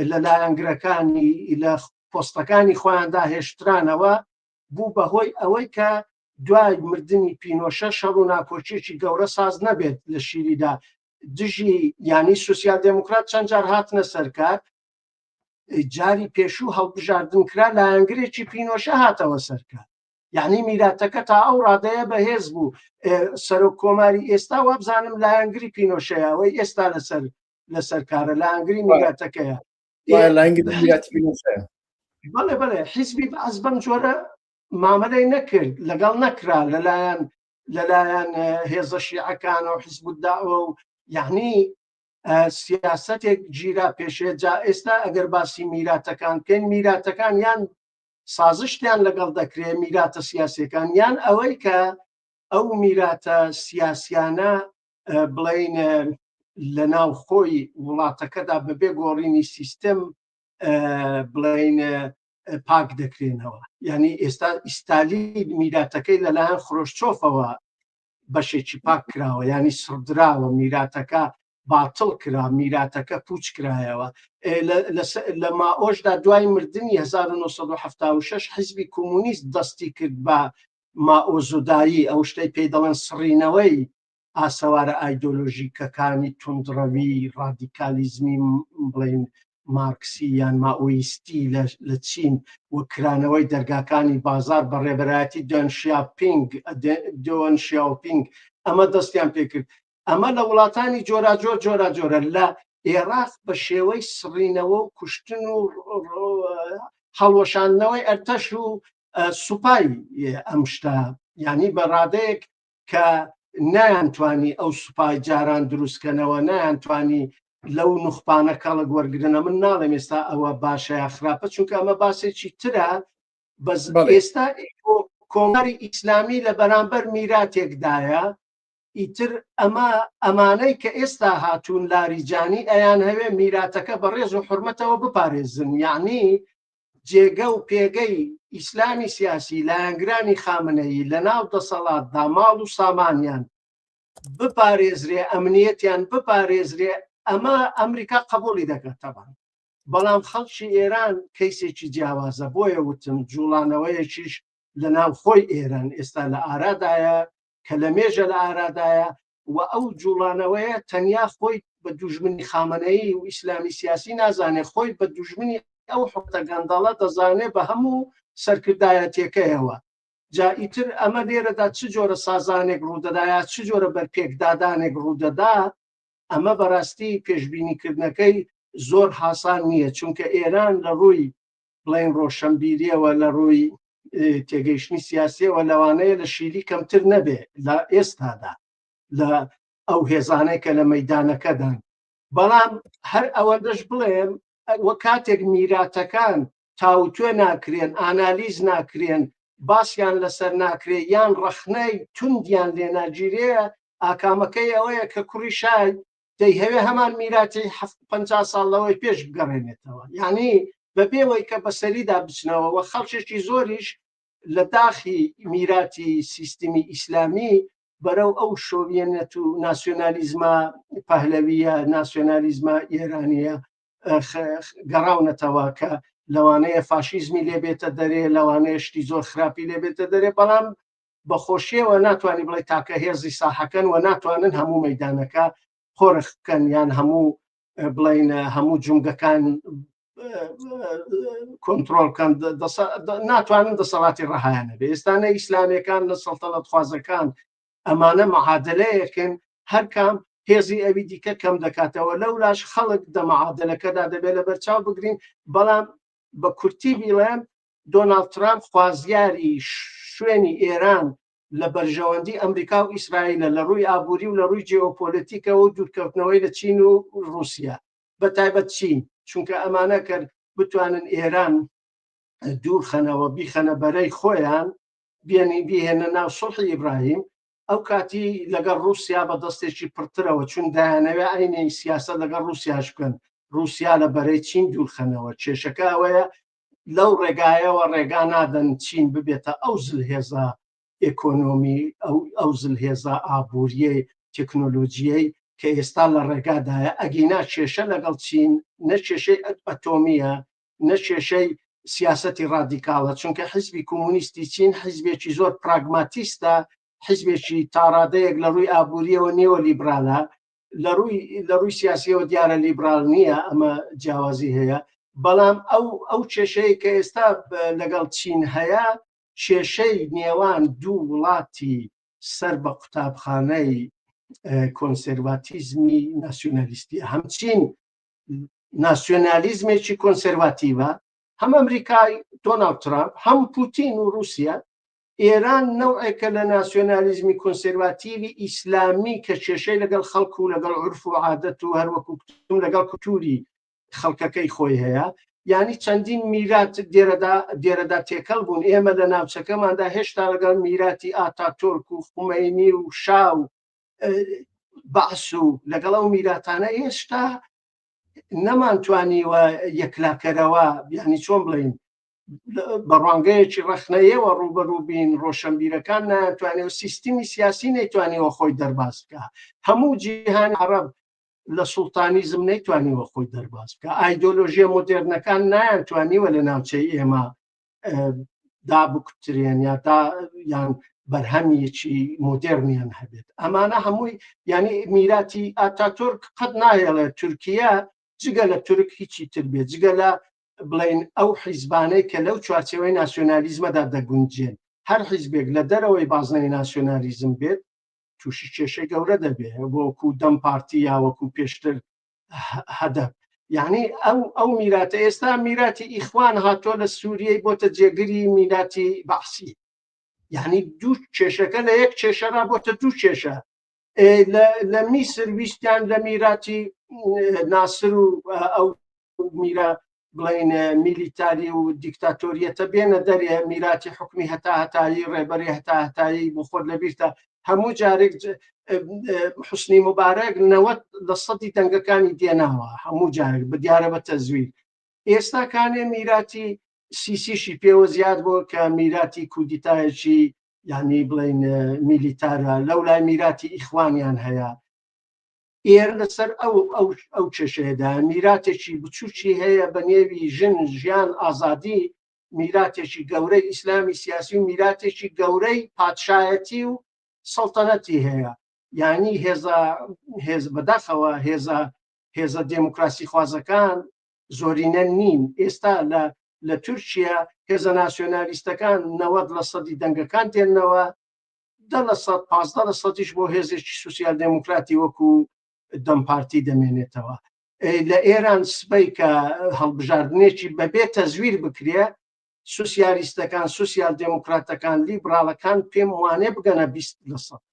S1: لە لایەنگرەکانی لە پۆستەکانی خۆیاندا هێشترانەوە بوو بەهۆی ئەوەی کە دوای مردنی پینۆشە شەڕ و ناکۆچێکی گەورە ساز نەبێت لە شیریدا دژی ینی سوسیال دموکرات چەند جار هاتنە سەرکار جاری پێشوو هەڵبژاردن کرا لایەنگرێکی پینۆشە هاتەوە سەرکار یعنی میراتەکە تا ئەو ڕادەیە بەهێز بوو سەرۆک کۆماری ئێستا وابزانم لایەنگری پینۆشەیەوەی ئێستا لەسەر لەسەر کارە لە ئەنگری میراتەکەیە بەڵێ بەڵێ حیزبی بەعس بەم جۆرە مامەلەی نەکرد لەگەڵ نەکرا لەلایەن لەلایەن هێزە شیعەکان و حیزب داوە و یعنی سیاستێک گیرا پێشێ جا ئێستا ئەگەر باسی میراتەکان کەن میراتەکان یان سازشتیان لەگەڵ دەکرێ میراتە سیاسەکان یان ئەوەی کە ئەو میراتە سیاسیانە بڵین لە ناو خۆی وڵاتەکەدا بەبێ گۆڕینی سیستم بڵین پاک دەکرێنەوە یعنی ئێستا ئیستالی میراتەکەی لەلایەن خرۆشچۆفەوە بەشێکی پاک کراوە ینی سڕدراوە میراتەکە باتڵ کرا میراتەکە پوچ کرایەوە لە ماۆشدا دوای مردنی 1970 حزبی کۆمونیست دەستی کرد بە مائۆزودایی، ئەو شتەی پێی دەڵێن سڕینەوەی ئاسەوارە ئایدۆلۆژیکەکانی توندڕەوی ڕادیکالیزمی بڵێین مارکسی یان مائۆیستی لە چین و کرانەوەی دەرگاکانی بازار بە ڕێبەرایەتی دۆن شیاپینگ دۆن شیاوپینگ ئەمە دەستیان پێکرد ئەمە لە وڵاتانی جۆراجۆر جۆراجۆرە لە ئێراق بە شێوەی سڕینەوە و کوشتن و هەڵوەشاندنەوەی ئەرتەش و سوپای ئەم شتە ینی بە ڕادەیەک کە نایانتوانی ئەو سوپای جاران دروستکەنەوە نایانتوانی لەو نوخپانە کەڵک وەرگرنە من ناڵێم ئێستا ئەوە باشە خراپە چونکە ئەمە باسێکی ترە بەس ئێستا کۆماری ئیسلامی لە بەرامبەر میراتێکدایە ئیتر ئەمە ئەمانەی کە ئێستا هاتوون لاریجانی ئەیانهەوێ میراتەکە بە ڕێز و حرمەتەوە بپارێزن یعنی جێگە و پێگەی ئیسلامی سیاسی لایەنگرانی خامنەیی لە ناو دەسەڵات دا ماڵ و سامانیان بپارێزرێ ئەمنیەتیان بپارێزرێ ئەمە ئەمریکا قبولی دەکاتەوە بەڵام خەڵکی ئێران کەیسێکی جیاوازە بۆیە وتم جوڵانەوەیەکیش لە ناو خۆی ئێران ئێستا لە ئارادایە کە لە مێژە لە ئارادایە و ئەو جوڵانەوەیە تەنیا خۆی بە دوژمنی خامەنەیی و ئیسلامی سیاسی نازانێت خۆی بە دوژمنی ئەو حوتە گەندەڵە دەزانێت بە هەموو سەرکردایەتەکەیەوە جا ئیتر ئەمە لێرەدا چ جۆرە سازانێک ڕوودەدایە چ جۆرە بەرپێکدادانێک ڕوودەدا ئەمە بەڕاستی پێشببینیکردنەکەی زۆر حسان نییە چونکە ئێران لە ڕووی بڵێن ڕۆشەنبیریەوە لە ڕووی تێگەیشتنی سیاسیەوە لەوانەیە لە شیلی کەمتر نەبێ لە ئێستادا لە ئەو هێزانەی کە لە مەدانەکەدان بەڵام هەر ئەوەندەش بڵێم وە کاتێک میراتەکان تاوتوێ ناکرێن ئانالیز ناکرێن باسیان لەسەر ناکرێ یان ڕەخنەی توندیان لێناگیرەیە ئاکامەکەی ئەوەیە کە کوڕی شای دەیهەوێ هەمان میراتی پ ساڵ لەوەی پێش بگەڕێنێتەوە یعنی بە پێوەی کە بەسەریدا بچنەوە و خەڵکێکی زۆریش لە داخی میراتی سیستمی ئیسلامی بەرەو ئەو شۆویەنەت و ناسیۆنالیزما پەهلەویە ناسیۆنالیزما ئێرانیە گەڕاونەتەوە کە لەوانەیە فاشیزمی لێبێتە دەرێ لەوانەیە شتی زۆر خراپی لێبێتە دەرێ بەڵام بەخۆشیەوە ناتوانانی بڵێ تاکە هێزی ساحەکەن و ناتوانن هەموو مەدانەکە قۆرخ بکەن یان هەموو بڵین هەموو جونگەکان کۆنتترۆل کەم ناتوانن دەسەڵاتی ڕەهایانە بێ ئێستانە ئیسلامەکان لە سەڵتەڵەت خوازەکان ئەمانە معادلەیەکن هەرکام هێزی ئەوی دیکە کەم دەکاتەوە لەو لاش خەڵک دەمەعادلەکەدا دەبێت لە بەرچاو بگرین بەڵام بە کورتی بیڵێن دۆناڵد ترامپ خوازیاری شوێنی ئێران لە بەرژەوەندی ئەمریکا و ئیسرائیلە لە ڕووی ئابووری و لە ڕووی جیۆپۆلەتیکەوە و دوورکەوتنەوەی لە چین و ڕووسیا بە تایبەت چین چونکە ئەمانە کەر بتوانن ئێران دوور خەنەوە بیخەنە بەرەی خۆیان بێنی بیهێنە ناو سڵحی ئیبراهیم ئەو کاتی لەگەڵ ڕووسیا بە دەستێکی پڕترەوە چون دایانەوێ ئاینی سیاسە لەگەڵ ڕووسیاش بکەن ڕووسیا لە بەرەی چین دوورخەنەوە کێشەکە ئەوەیە لەو ڕێگایەوە ڕێگا نادەن چین ببێتە ئەو زلهێزە ئێکۆنۆمی ئەو زلهێزە ئابووریە تەکنۆلۆژیەی کە ئێستا لە ڕێگادایە ئەگینا کێشە لەگەڵ چین نە کێشەی ئەتۆمیە نە کێشەی سیاستی ڕادیکاڵە چونکە حزبی کۆمونیستی چین حزبێکی زۆر پراگماتیستە حزبێکی تاڕادەیەک لە ڕووی ئابووریەوە نێوە لیبرالە لە ڕووی لە ڕووی سیاسیەوە دیارە لیبرال نییە ئەمە جیاوازی هەیە بەڵام ئەو ئەو کێشەیە کە ئێستا لەگەڵ چین هەیە کێشەی نێوان دوو وڵاتی سەر بە قوتابخانەی کۆنسەرواتیزمی ناسیۆنالیستی هەمچین ناسیۆنالیزمێکی کۆنسەرواتیڤە هەم ئەمریکای دۆناڵد ترامپ هەم پوتین و رووسیا ئێران نەوعێکە لە ناسیۆنالیزمی کۆنسێرواتیڤی ئیسلامی کە کێشەی لەگەڵ خەڵک و لەگەڵ عورف و عادەت و هەروەکو کوتم لەگەڵ کولتووری خەڵکەکەی خۆی هەیە یانی چەندین میرات دێرەدا دێرەدا تێکەڵ بوون ئێمە لە ناوچەکەماندا هێشتا لەگەڵ میراتی ئاتاتۆرک و خومەینی و شا و بەعس و لەگەڵ ئەو میراتانە هێشتا نەمانتوانیوە یەکلاکەرەوە بیانی چۆن بڵین بە ڕوانگەیەکی ڕەخنەیەوە ڕوبەروبین ڕۆشنبیرەکان ناتوانێت و سیستمی سیاسی نەیتوانیوە خۆی دەرباز بکە هەموو جیهان عرب لە سوڵتانیزم نەیتوانیوە خۆی دەرباز بکە ئایدۆلۆژیە مدررنەکان نایانتوانیوە لە ناوچەی ئێمە دابکترێن یا تا یان بەرهەمیەکی مدررنیان هەبێت ئەمانە هەمووی ینی میراتی ئاتاتورک قەت ناهێڵێت تورکیا جگە لە تورک هیچی تر بێت جگە لە بڵێین ئەو حیزبانەی کە لەو چوارچەوەی ناسیۆنالیزمەدا دەگونجێن هەر حیزبێک لە دەرەوەی بازنەی ناسیۆنالیزم بێت تووشی کێشەی گەورە دەبێت وەکو دەم پارتی یا وەکو پێشتر هەدەب یعنی ئەو ئەو میراتە ئێستا میراتی ئیخوان هاتۆ لە سووریەی بۆتە جێگری میراتی بەحسی یعنی دوو کێشەکە لە یەک کێشەرا بۆتە دوو کێشە لە میسر ویستیان لە میراتی ناسر و ئەو میرا بڵین میلیتاری و دیکتاتۆریەتە بێنە دەرێ میراتی حکومی هەتا هەتایی ڕێبەری هەتا هەتایی بۆ خۆر لەبیرتە هەموو جارێک حسنی مبارەک نەوەت لە سەدی دەنگەکانی دێناوە هەموو جارێک بە دیارە بە تەزویر ئێستا کانێ میراتی سیسیشی پێوە زیاد بۆ کە میراتی کودیتایەکی یعنی بڵین میلیتارە لەو لای میراتی ئیخوانیان هەیە ئێرە لەسەر ئەو ئەو ئەو کێشەیەدا میراتێکی بچووکی هەیە بە نێوی ژن ژیان ئازادی میراتێکی گەورەی ئیسلامی سیاسی و میراتێکی گەورەی پادشایەتی و سەڵتەنەتی هەیە یعنی هێزە هێز بەداخەوە هێزە هێزە دێموکراسی خوازەکان زۆرینە نین ئێستا لە لە تورکیا هێزە ناسیۆنالیستەکان نەوەد لە سەدی دەنگەکان دێنەوە دە لە سەد پازدە لە سەدیش بۆ هێزێکی سوسیال دێموکراتی وەکو دەم پارتی دەمێنێتەوە لە ئێران سبەی کە هەڵبژاردنێکی بەبێ تەزویر بکرێ سوسیالیستەکان سوسیال دێموکراتەکان لیبراڵەکان پێم وانێ بگەنە بیست لە سەد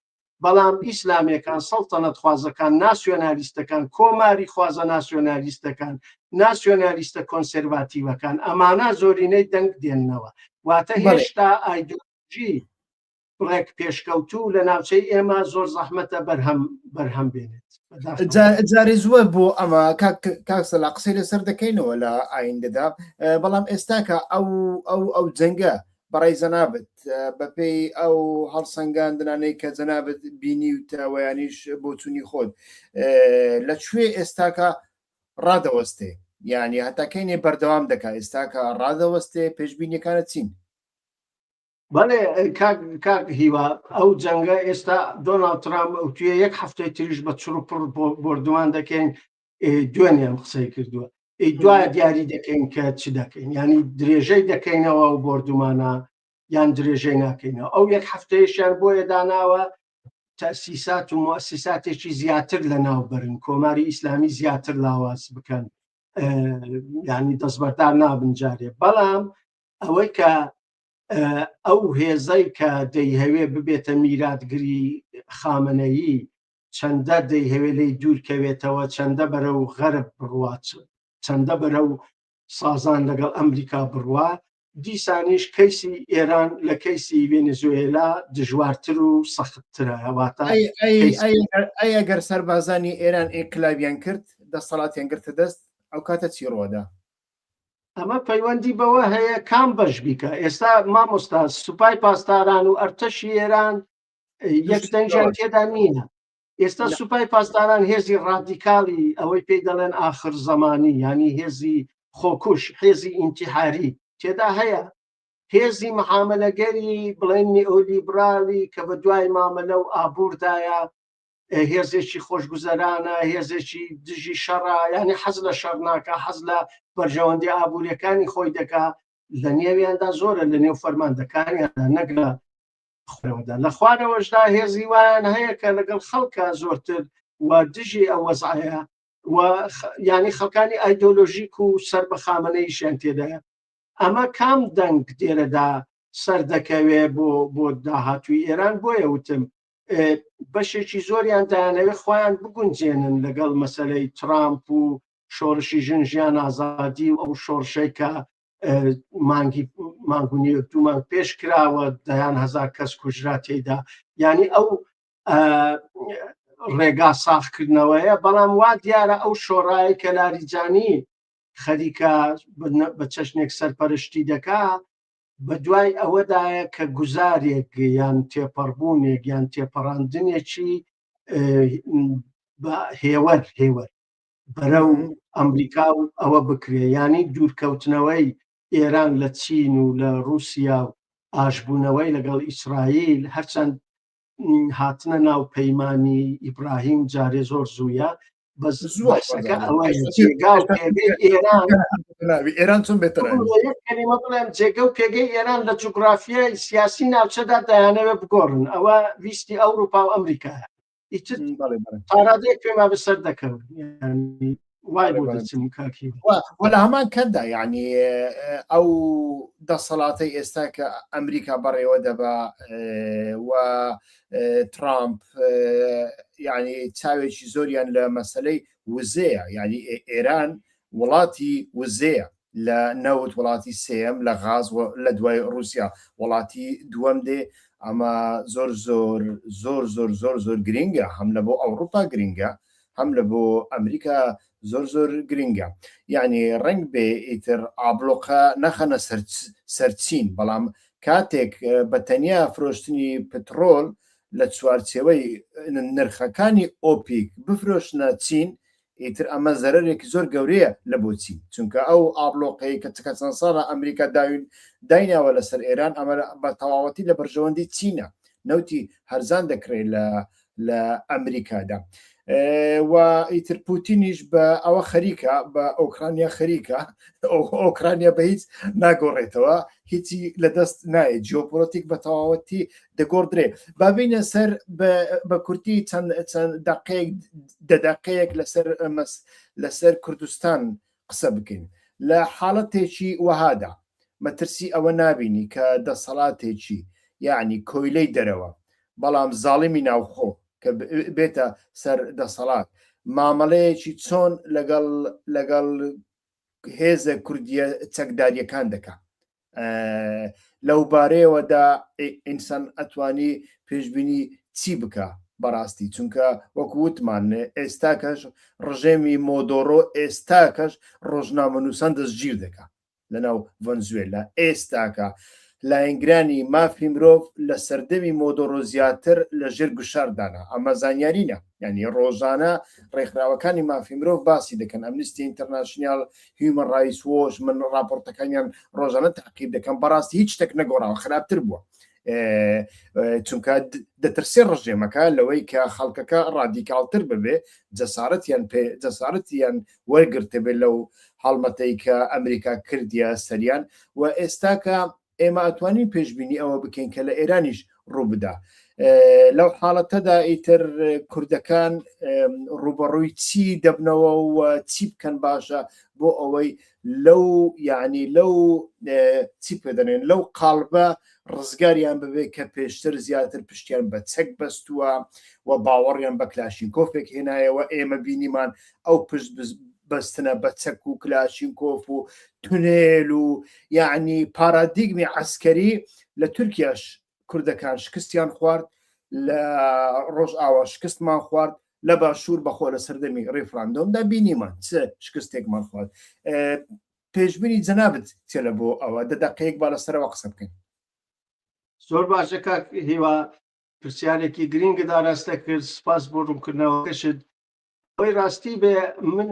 S1: بەڵام ئیسلامەکان سەڵتەنەت خوازەکان ناسیۆنالیستەکان کۆماری خوازە ناسیۆنالیستەکان ناسیۆنالیستە کۆنسەرڤاتیوەکان ئەمانە زۆرینەی دەنگ دێننەوە واتە هێشتا ئایدۆ تەکنەلۆژی بڕێک پێشکەوتوو لە ناوچەی
S2: ئێمە زۆر زەحمەتە بەرهەم بەرهەم بێنێت جارێ زووە بۆ ئەمە کاکسە لە قسەی لەسەر دەکەینەوە لە ئایندەدا بەڵام ئێستاکە ئەو ئەو ئەو جەنگە بەڕێ زەنابت بەپێی ئەو هەڵسەنگاندنانەی کە جەنابەت بینی و تاوەیانیش بۆچوونی خۆت لە کوێ ئێستاکە ڕادەوەستێ یعنی هەتاکەینێ بەردەوام دەکات ئێستاکە ڕادەوەستێ پێشببینیەکانە چین
S1: بەڵێ کاک کاک هیوا ئەو جەنگە ئێستا دۆناڵد ترامپ ئەوتوێ یەک هەفتەی تریش بە چڕ و پڕ بۆ- بۆردومان دەکەین ئێ، دوێنێم قسەی کردووە ئەی دوایە دیاری دەکەین کە چ دەکەین ینی درێژەی دەکەینەوە و بۆردومانە یان درێژەی ناکەینەوە ئەو یەک هەفتەیەشیان بۆیە داناوە تەسیسات و موسیساتێکی زیاتر لە ناو بەرن کۆماری ئیسلامی زیاتر لاواز بکەن اه، یعنی دەستبەردار نابن جارێ بەڵام ئەوەی کە ئەو هێزەی کە دەیهەوێ ببێتە میراتگری خامنەیی چەندە دەیهەوێ لی دوورکەوێتەوە چەندە بەرە و غەرب بڕات چەندە بەرە و سازان لەگەڵ ئەمریکا بڕوا دیسانیش کەیسی ئێران لە کەیسی ڤێنزوێلا دژوارتر و سەختترە هەواتە
S2: ئەگەر سەربازانی ئێران ئینقلابیان کرد دەسەڵاتیان گرتە دەست ئەو کاتە چی ڕۆدا ئەمە
S1: پەیوەندی بەوە هەیە کام بەش بیکە ئێستا مامۆستا سوپای پاسداران و ئەرتەشی ئێران یەک دەنجان تێدا نییە ئێستا سوپای پاسداران هێزی ڕادیکالی ئەوەی پێی دەڵێن ئاخر زمانی ینی هێزی خۆکوش هێزی ئینتیحاری تێدا هەیە هێزی محاملەگەری بڵێن نیئۆلیبرالی کە بە دوای مامەلە و ئابووردایە هێزێکی خۆشگوزەرانە هێزێکی دژی شەڕە ینی حەز لە شەڕ ناکە حەز لە بەرژەوەندی ئابوووریەکانی خۆی دەکا لە نێویاندا زۆرە لە نێو فەرماندەکانیاندا نەگرە خۆەوەدا لە خوارەوەشدا هێزی وایان هەیە کە لەگەڵ خەڵکە زۆرتر و دژی ئەو وەزعەیە و ینی خەکانی ئایدۆلۆژیک و سەر بە خامنەیشیان تێدایە ئەمە کام دەنگ دێرەدا سەردەکەوێ بۆ بۆ داهاتوی ئێران بۆیە وتم بەشێکی زۆریان دایانەوێت خۆیان بگونجێنن لەگەڵ مەسلەی ترامپ و شۆڕشی ژن ژیان ئازادی و ئەو شۆڕشەی کە مانگی مانگونی دومان پێش کراوە دەیان هزار کەس کوژرا تێدا ینی ئەو ڕێگا ساخکردنەوەیە بەڵام وا دیارە ئەو شۆڕایی کە لاریجانی خەریکە بە چەشنێک سەرپەرشتی دەکا بە دوای ئەوەدایە کە گوزارێک یان تێپەڕبوونێک یان تێپەڕاندنێکی هێوەر هێوەر بەرە و ئەمریکا و ئەوە بکرێ ینی دوورکەوتنەوەی ئێران لە چین و لە رووسیا و ئاشبوونەوەی لەگەڵ ئیسرائیل هەرچەند هاتنە ناو پەیمانی ئیبراهیم جارێ زۆر زووە بەس زووەکە ئێران
S2: چون بێت بڵێم
S1: جێگە و پێگەی ئێران لە جوگرافیای سیاسی ناوچەدا دایانەوە بگۆڕن ئەوە ویستی ئەوروپا و ئەمریکا ئیتر پارادێک پێما بەسەر دەکەون وەلا هەمان
S2: کەدا یعنی ئەو دەسەڵاتە ئێستا کە ئەمریکا بەڕێوە دەبا و ترامپ یعنی چاوێکی زۆریان لە مەسلەی وزەیە یعنی ئێران وڵاتی وزەیە لە نەوت وڵاتی سێیەم لە غاز وە لە دوای ڕوسیا وڵاتی دووەم دێ ئەمە زۆر زۆر زۆر زۆر زۆر زۆر گرینگە هەم لە بۆ ئەوڕوپا گرینگە هەم لە بۆ ئەمریکا زۆر زۆر گرینگە یانی ڕنگ بێ ئیتر ئابلۆقە نەخەنە سەر سەر چین بەڵام کاتێک بە تەنیا فرۆشتنی پتڕۆل لە چوارچێوەی نرخەکانی ئۆپیک بفرۆشنە چین ئیتر ئەمە زەرەرێکی زۆر گەورەیە لە بۆچی؟ چونکە ئەو ئابڵۆقەی کە چکە چەند ساڵە ئەمریکا داوین دایناوە لە سەر ئێران ئەمە بە تەواوەتی لە بەرژەوەندی چینە نەوتی هەرزان دەکرێت لە لە ئەمریکادا و ئیتر پوتینیش بە ئەوە خەریکە بە ئۆکرانیا خەریکە ئۆکرانیا بە هیچ ناگۆڕێتەوە هیچی لە دەست نایە جیۆپۆلتیک بە تەواوەتی دەگۆڕدرێ بابینە سەر بە کورتی چەند چەند دقەیەک دەدەقەیەک لەسەر ئەمەس لەسەر کوردستان قسە بکەین لە حاڵەتێکی وەهادا مەترسی ئەوە نابینی کە دەسەڵاتێکی یعنی کۆیلەی دەرەوە بەڵام زاڵمی ناوخۆ کە بێتە سەر دەسەڵات مامەڵەیەکی چۆن لەگەڵ لەگەڵ هێزە کوردیە چەکداریەکان دەکات لەو بارەیەوەدا ئینسان ئەتوانی پێشببینی چی بکە بەڕاستی چونکە وەکو وتمان ئێستا کەش ڕژێمی مۆدۆرۆ ئێستا کەش ڕۆژنامە نووسان دەستگیر دەکە لەناو ڤەنزوێلا ئێستاکە لایەنگرانی مافی مرۆڤ لە سەردەمی مۆدۆرۆ زیاتر لە ژێر گوشاردانە ئەمە زانیارینە ینی ڕۆژانە ڕێکخراوەکانی مافی مرۆڤ باسی دەکەن ئەمنیستی ئینتەرناشنیال هیومەن ڕایس وۆش من ڕاپۆرتەکانیان ڕۆژانە تاقیب دەکەم بەڕاستی هیچ شتێک نەگۆڕاوە خراپتر بووە چونکە دەترسێ ڕژێمەکە لەوەی کە خەڵکەکە ڕادیکالتر ببێ جەسارەتیان پێ جەسارەتیان وەرگرتبێت لەو هەڵمەتەی کە ئەمریکا کردیە سەریان و ئێستاکە ئێمە ئەتوانین پێشبینی ئەوە بکەین کە لە ئێرانیش ڕووبدا لەو حاڵەتەدا ئیتر کوردەکان ڕوبەڕووی چی دەبنەوە و چی بکەن باشە بۆ ئەوەی لەو یعنی لەو چی پێدەێن لەو قالبە ڕزگاریان ببێت کە پێشتر زیاتر پشتیان بە چەک بەستووە و باوەڕیان بە کلاشین کۆفێک هێنایەوە ئێمە بینیمان ئەو پشت بەستنە بە چەک و کلاشینکۆف و تونێل و یعنی پارادیگمی عسکەری لە تورکیاش کوردەکان شکستیان خوارد لە ڕۆژ ئاوا شکستمان خوارد لە باشوور بەخۆ لە سەردەمی ڕیفراندۆمدا بینیمان چ شکستێکمان خوارد پێشببینی جەنابەت چێ لە بۆ ئەوە دەدەقەیەک با لەسەرەوە قسە بکەین
S1: زۆر باشە کاک هیوا پرسیارێکی گرنگدا ڕاستە کرد سپاس بۆ ڕوونکردنەوەکەشت ئەوەی ڕاستی بێ من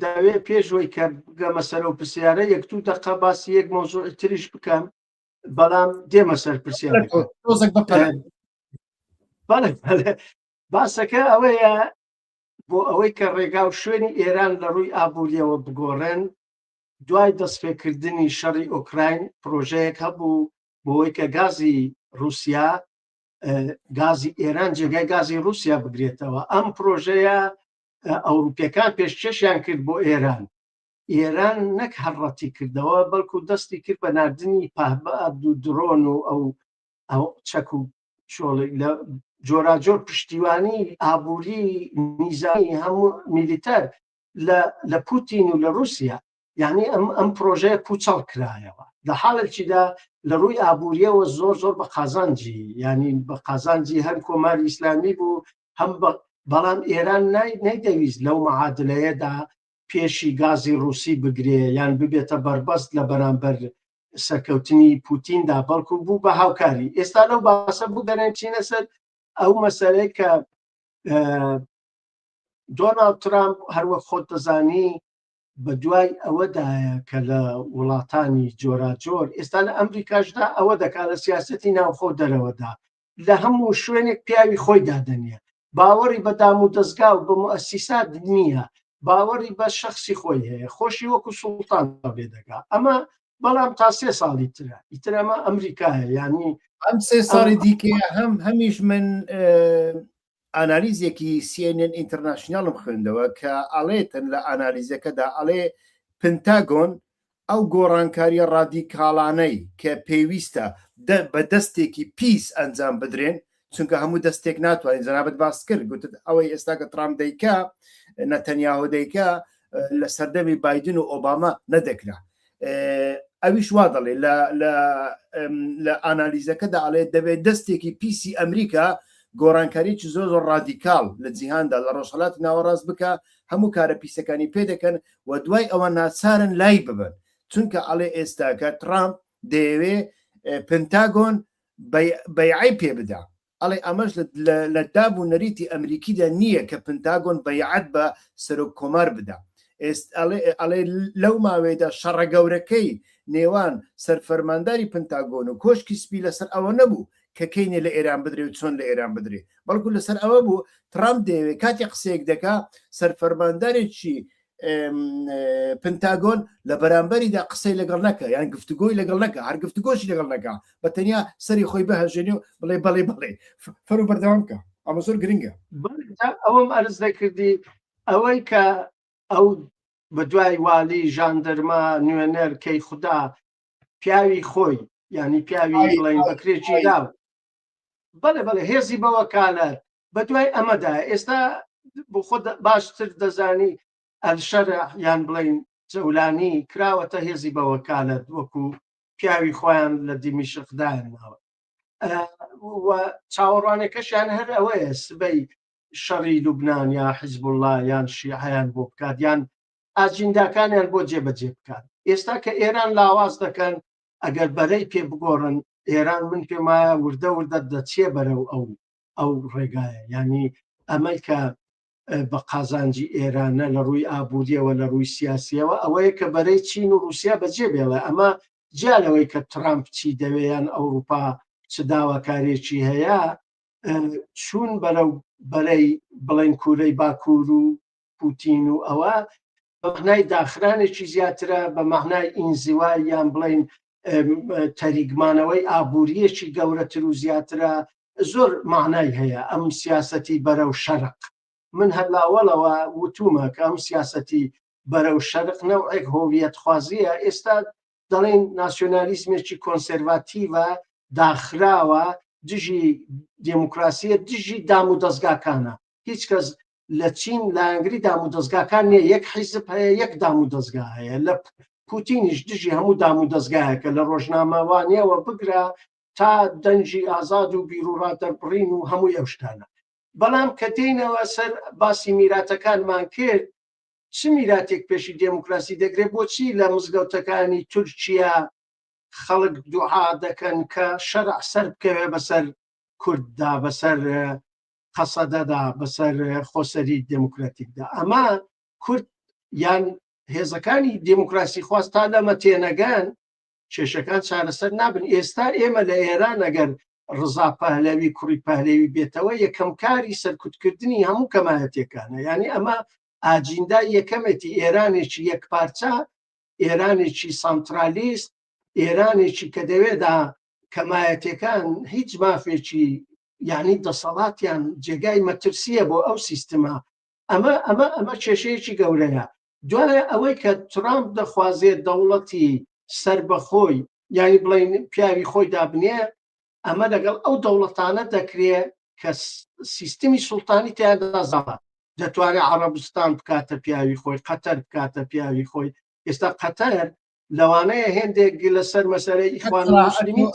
S1: داوێ پێشوەی کە بگەمە سەرە و پرسیارە یەک تو دەقا باسی یەک مۆزوعی تریش بکەم بەڵام دێمە سەر پرسیارە باسەکە ئەوەیە بۆ ئەوەی کە ڕێگا و شوێنی ئێران لە ڕووی ئابوووریەوە بگۆڕێن دوای دەستپێکردنی شەڕی ئۆکراین پرۆژەیەک هەبوو بۆی کە گازی رووسیا گازی ئێران جێگای گازی رووسیا بگرێتەوە ئەم پرۆژەیە ئەوروپیەکان پێشکەشیان کرد بۆ ئێران ئێران نەک هەڕەتی کردەوە بەڵکو دەستی کرد بە نردنی پهبە عبد و درۆن و ئەو ئەو چەک و شۆڵێک لە جۆراجۆر پشتیوانی ئابووری نیزانی هەموو میلیتەر لە پوتین و لە رووسیا یعنی ئەم ئەم پرۆژەیە پوچەڵ کرایەوە لە حاڵێکیدا لە ڕووی ئابوووریەوە زۆر زۆر بە قازانجی ینی بە قازانجی هەر کۆماری ئیسلامی بوو هەم بەڵام ئێران نەیدەویست لەو معادلەیەدا پێشی گازی ڕوسی بگرێ یان ببێتە بەربەست لە بەرامبەر سەرکەوتنی پوتیندا بەڵکو بوو بە هاوکاری ئێستا لەو باسە بگەرێن چینە سەر ئەو مەسەرەی کە دۆناڵد ترامپ هەروە خۆت دەزانی بەدوای ئەوەدایە کە لە وڵاتانی جۆراجۆر ئێستا لە ئەمریکاشدا ئەوە دەکات لە سیاستی ناوخۆ دەرەوەدا لە هەموو شوێنێک پیاوی خۆی دادەنیە باوەڕی بە دام و دەستگا و بە موسیسات نییە باوەڕی بە شخصی خۆی هەیە خۆشی وەکو سوڵتان بێ دەگا ئەمە بەڵام تا سێ ساڵی ترە ئیتر ئەمە ئەمریکایە یعنی ئەم سێ ساڵی
S2: دیکە هەم هەمیش من ئانالیزێکی سی ئێن ئێن ئینتەرناشناڵم خوێندەوە کە ئەڵێتن لە ئانالیزەکەدا ئەڵێ پنتاگۆن ئەو گۆڕانکاریە ڕادیکاڵانەی کە پێویستە بە دەستێکی پیس ئەنجام بدرێن چونکە هەموو دەستێک ناتوانین جەنابەت باست کرد گوتت ئەوەی ئێستا کە ترامپ دەیکا نەتەنیاهۆ دەیکا لە سەردەمی بایدن و ئۆباما نەدەکرا ئەویش وا دەڵێ لە ئانالیزەکەدا ئەڵێ دەبێت دەستێکی پیسی ئەمریکا گۆڕانکاریی زۆر زۆر ڕادیکال لە جیهاندا لە ڕۆژهڵات ناوەڕاست بکە هەموو کارە پیسەکانی پێ دەکەن و دوای ئەوە ناچارن لای ببن چونکە ئەڵێ ئێستاکە ترامپ دەیەوێ پنتاگۆن بەیعی پێ بدا ئەڵێ ئەمەش لە داب و نەریتی ئەمریکیدا نییە کە پنتاگۆن بەیعەت بە سەرۆک کۆمار بدا. ئەڵێ لەو ماوەیەدا شەڕە گەورەکەی نێوان سەرفەرمانداری پنتاگۆن و کۆشکی سپی لەسەر ئەوە نەبوو کە کەینێ لە ئێران بدرێ و چۆن لە ئێران بدرێ بەڵکو لەسەر ئەوە بوو ترامپ دەیەوێ کاتی قسەیەک دەکا سەرفەرماندارێکی پنتاگۆن لە بەرامبەریدا قسەی لەگەڵ نەکە یان گفتوگۆی لەگەڵ نەکە هەر گفتوگۆشی لەگەڵ نەکە بە تەنیا سەری خۆی بهژێنێ و بڵێ بەڵێ بڵێ فەرو بەردەوام بکە ئەمە زۆر گرنگە ئەوەم
S1: ئەرز دەکردی ئەوەی کە ئەو بە دوای والی ژاندەرما نوێنەر کەی خوددا پیاوی خۆی ینی پیاوی بڵین بەکرێکی داو بەڵێ بەڵێ هێزی بەوەکالەت بە دوای ئەمەدا ئێستا بۆ خۆ باشتر دەزانی ئەلشەر یان بڵین جەولانی کراوەتە هێزی بەوەکالەت وەکو پیاوی خۆیان لە دیمیشقدایان ناوە چاوەڕوانەکەشیان هەر ئەوەیە سبەی شەڕی لوبناان یا حیزب الله یان شیعیان بۆ بکات یان ئاجینداکانیان بۆ جێبەجێ بکات ئێستا کە ئێران لاواز دەکەن ئەگەر بەرەی پێ بگۆڕن ئێران من پێمایە وردە وردە دەچێ بەرەو ئەو ئەو ڕێگایە یعنی ئەمەی کە بە قازانجی ئێرانە لە ڕووی ئابوووریەوە لە ڕووی سیاسیەوە ئەوەیە کە بەرەی چین و رووسیا بەجێ بێڵێ ئەمە جیالەوەی کە ترامپ چی دەوێیان ئەوروپا چ داواکارێکی هەیە چوون بەرەو بەرەی بڵێن کوورەی باکوور و پوتین و ئەوە بەمەعنای داخرانێکی زیاترە بە مەعنای ئینزیوا یان بڵین تەریگمانەوەی ئابووریەکی گەورەتر و زیاترە زۆر معنای هەیە ئەم سیاسەتی بەرەو شەرق من هەر لاوەڵەوە وتومە کە ئەم سیاسەتی بەرەو شەرق نەوەک هۆویەت خوازیە ئێستا دەڵێن ناسیۆنالیزمێکی کۆنسەرڤاتیڤە داخراوە دژی دموکراسیە دژی دام و دەستگاکانە هیچ کەس لە چین لایەنگری دام و دەستگاکان نیە یەک حیزب هەیە یەک دام و دەستگا هەیە لە پوتینیش دژی هەموو دام و دەستگایەکە لە ڕۆژنامەوانیەوە بگرە تا دەنجی ئازاد و بیرروڕا دەربڕین و هەمووی ئەو شتانە بەڵام کە دێنەوە سەر باسی میراتەکانمان کرد چ میراتێک پێشی دێموکراسی دەگرێت بۆچی لە مزگەوتەکانی تورکیا خەڵک دوعا دەکەن کە شەرع سەر بکەوێ بەسەر کورددا بەسەر قەسەدەدا بەسەر خۆسەری دموکراتیکدا ئەمە کورد یان هێزەکانی دموکراسی خواست تا لەمە تێنەگەن کێشەکان چارەسەر نابن ئێستا ئێمە لە ئێران ئەگەر ڕزا پەهلەوی کوڕی پەهلەوی بێتەوە یەکەم کاری سەرکوتکردنی هەموو کەمایەتەکانە ینی ئەمە ئاجیندا یەکەمێتی ئێرانێکی یەک پارچە ئێرانێکی سانترالیست ئێرانێکی کە دەوێدا کەمایەتەکان هیچ مافێکی یعنی دەسەڵاتیان جێگای مەترسیە بۆ ئەو سیستمە ئەمە ئەمە ئەمە کێشەیەکی گەورەیە دوایە ئەوەی کە ترامپ دەخوازێت دەوڵەتی سەر بەخۆی یاری بڵین پیاوی خۆی دابنێ ئەمە لەگەڵ ئەو دەوڵەتانە دەکرێ کە سیستمی سوڵتانی تیادازاوە دەتوانێت عربستان بکاتە پیاوی خۆی قەتەر بکاتە پیاوی خۆی ئێستا قەتەر لەوانەیە هێندێک لە سەر مەسەرە ئیخوان مسلمین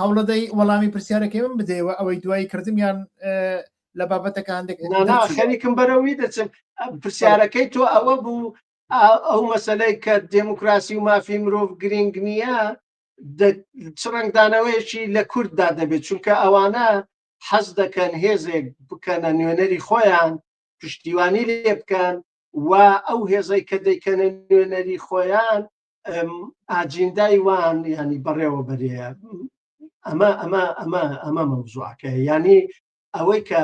S2: هەوڵەدەی وەڵامی پرسیارەکەی من بدەیەوە ئەوەی دوای کردمیان لە بابەتەکە هەندێک خەریکم بەرەوی
S1: دەچم پرسیارەکەی تۆ ئەوە بوو ئەو مەسلەی کە دموکراسی و مافی مرۆڤ گرنگ نییە چ ڕنگدانەوەیەکی لە کورددا دەبێت چونکە ئەوانە حەز دەکەن هێزێک بکەنە نوێنەری خۆیان پشتیوانی لێ بکەن و ئەو هێزەی کە دەیکەنە نوێنەری خۆیان ئاجیندای وان ینی بەڕێوە بەرەیە ئەمە ئەمە ئەمە ئەمە مەوزوعکە ینی ئەوەی کە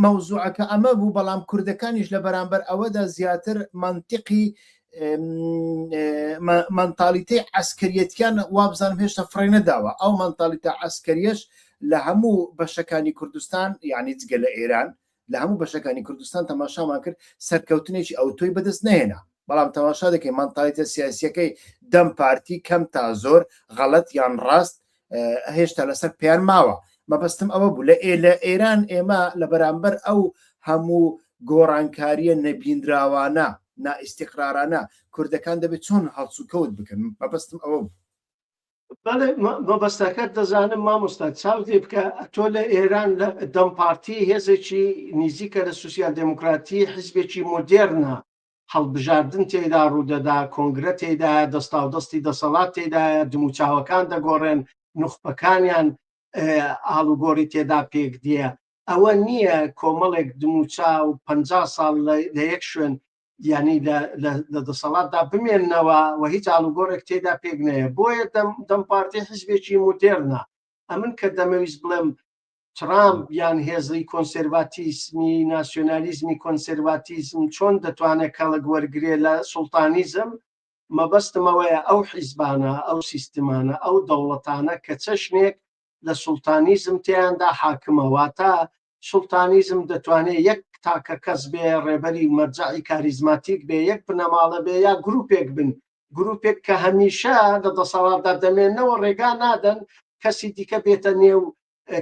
S2: مەوزوعەکە ئەمە بوو بەڵام کوردەکانیش لە بەرامبەر ئەوەدا زیاتر منتیقی مەنتالیتی ئەسکەریەتیان وابزانم هێشتا فڕێ نەداوە ئەو مەنتالیتا ئەسکەریەش لە هەموو بەشەکانی کوردستان یعنی جگە لە ئێران لە هەموو بەشەکانی کوردستان تەماشامان کرد سەرکەوتنێکی ئەو تۆی بەدەست نهێنا بەڵام تەماشا دەکەین مەنتالیتە سیاسیەکەی دەم پارتی کەم تا زۆر غەڵەت یان ڕاست هێشتا لەسەر پێیان ماوە مەبەستم ئەوە بوو لە ئێ لە ئێران ئێمە لە بەرامبەر ئەو هەموو گۆڕانکاریە نەبینراوانە نائیسیقرارانە کوردەکان دەبێت چۆن هەڵسوکەوت بکەن مەبەستم ئەوە بوو
S1: مەبەستەکە دەزانم مامۆستا چاو دێ بکە تۆ لە ئێران لە دەم پارتی هێزێکی نیزیکە لە سوسیال دموکراتی حزبێکی مۆدێرنە هەڵبژاردن تێیدا ڕوودەدا، کۆنگرە تێیدایە، دەستاودەستی دەسەڵات تێیدایە، دموچاوەکان دەگۆڕێن، نوخبەکانیان ئاڵوگۆڕی تێدا پێکدێ. ئەوە نییە کۆمەڵێک دموچاو پەنجا ساڵ لە یەک شوێن یانی لە دەسەڵاتدا بمێننەوە و هیچ ئاڵوگۆڕێک تێدا پێک نەیە. بۆیە دەم پارتی حزبێکی مودێرنە. ئەمن کە دەمەویست بڵێم ترامپ یان هێزی کۆنسێرڤاتیسمی ناسیۆنالیزمی کۆنسێرڤاتیزم چۆن دەتوانێت کەڵک وەرگێ لە سوڵتانیزم مەبەستمەوەیە ئەو حیزبانە ئەو سیستمانە ئەو دەوڵەتانە کە چەشنێک لە سوڵتانیزم تیاندا حاکمەوە تا سوڵتانیزم دەتوانێت یەک تاکە کەس بێ ڕێبەری مەرجعی کاریزماتیک بێ یەک بنەماڵە بێ یا گرروپێک بن گروپێک کە هەمیشە لە دەسەڵاتدا دەمێنەوە ڕێگا نادەن کەسی دیکە بێتە نێو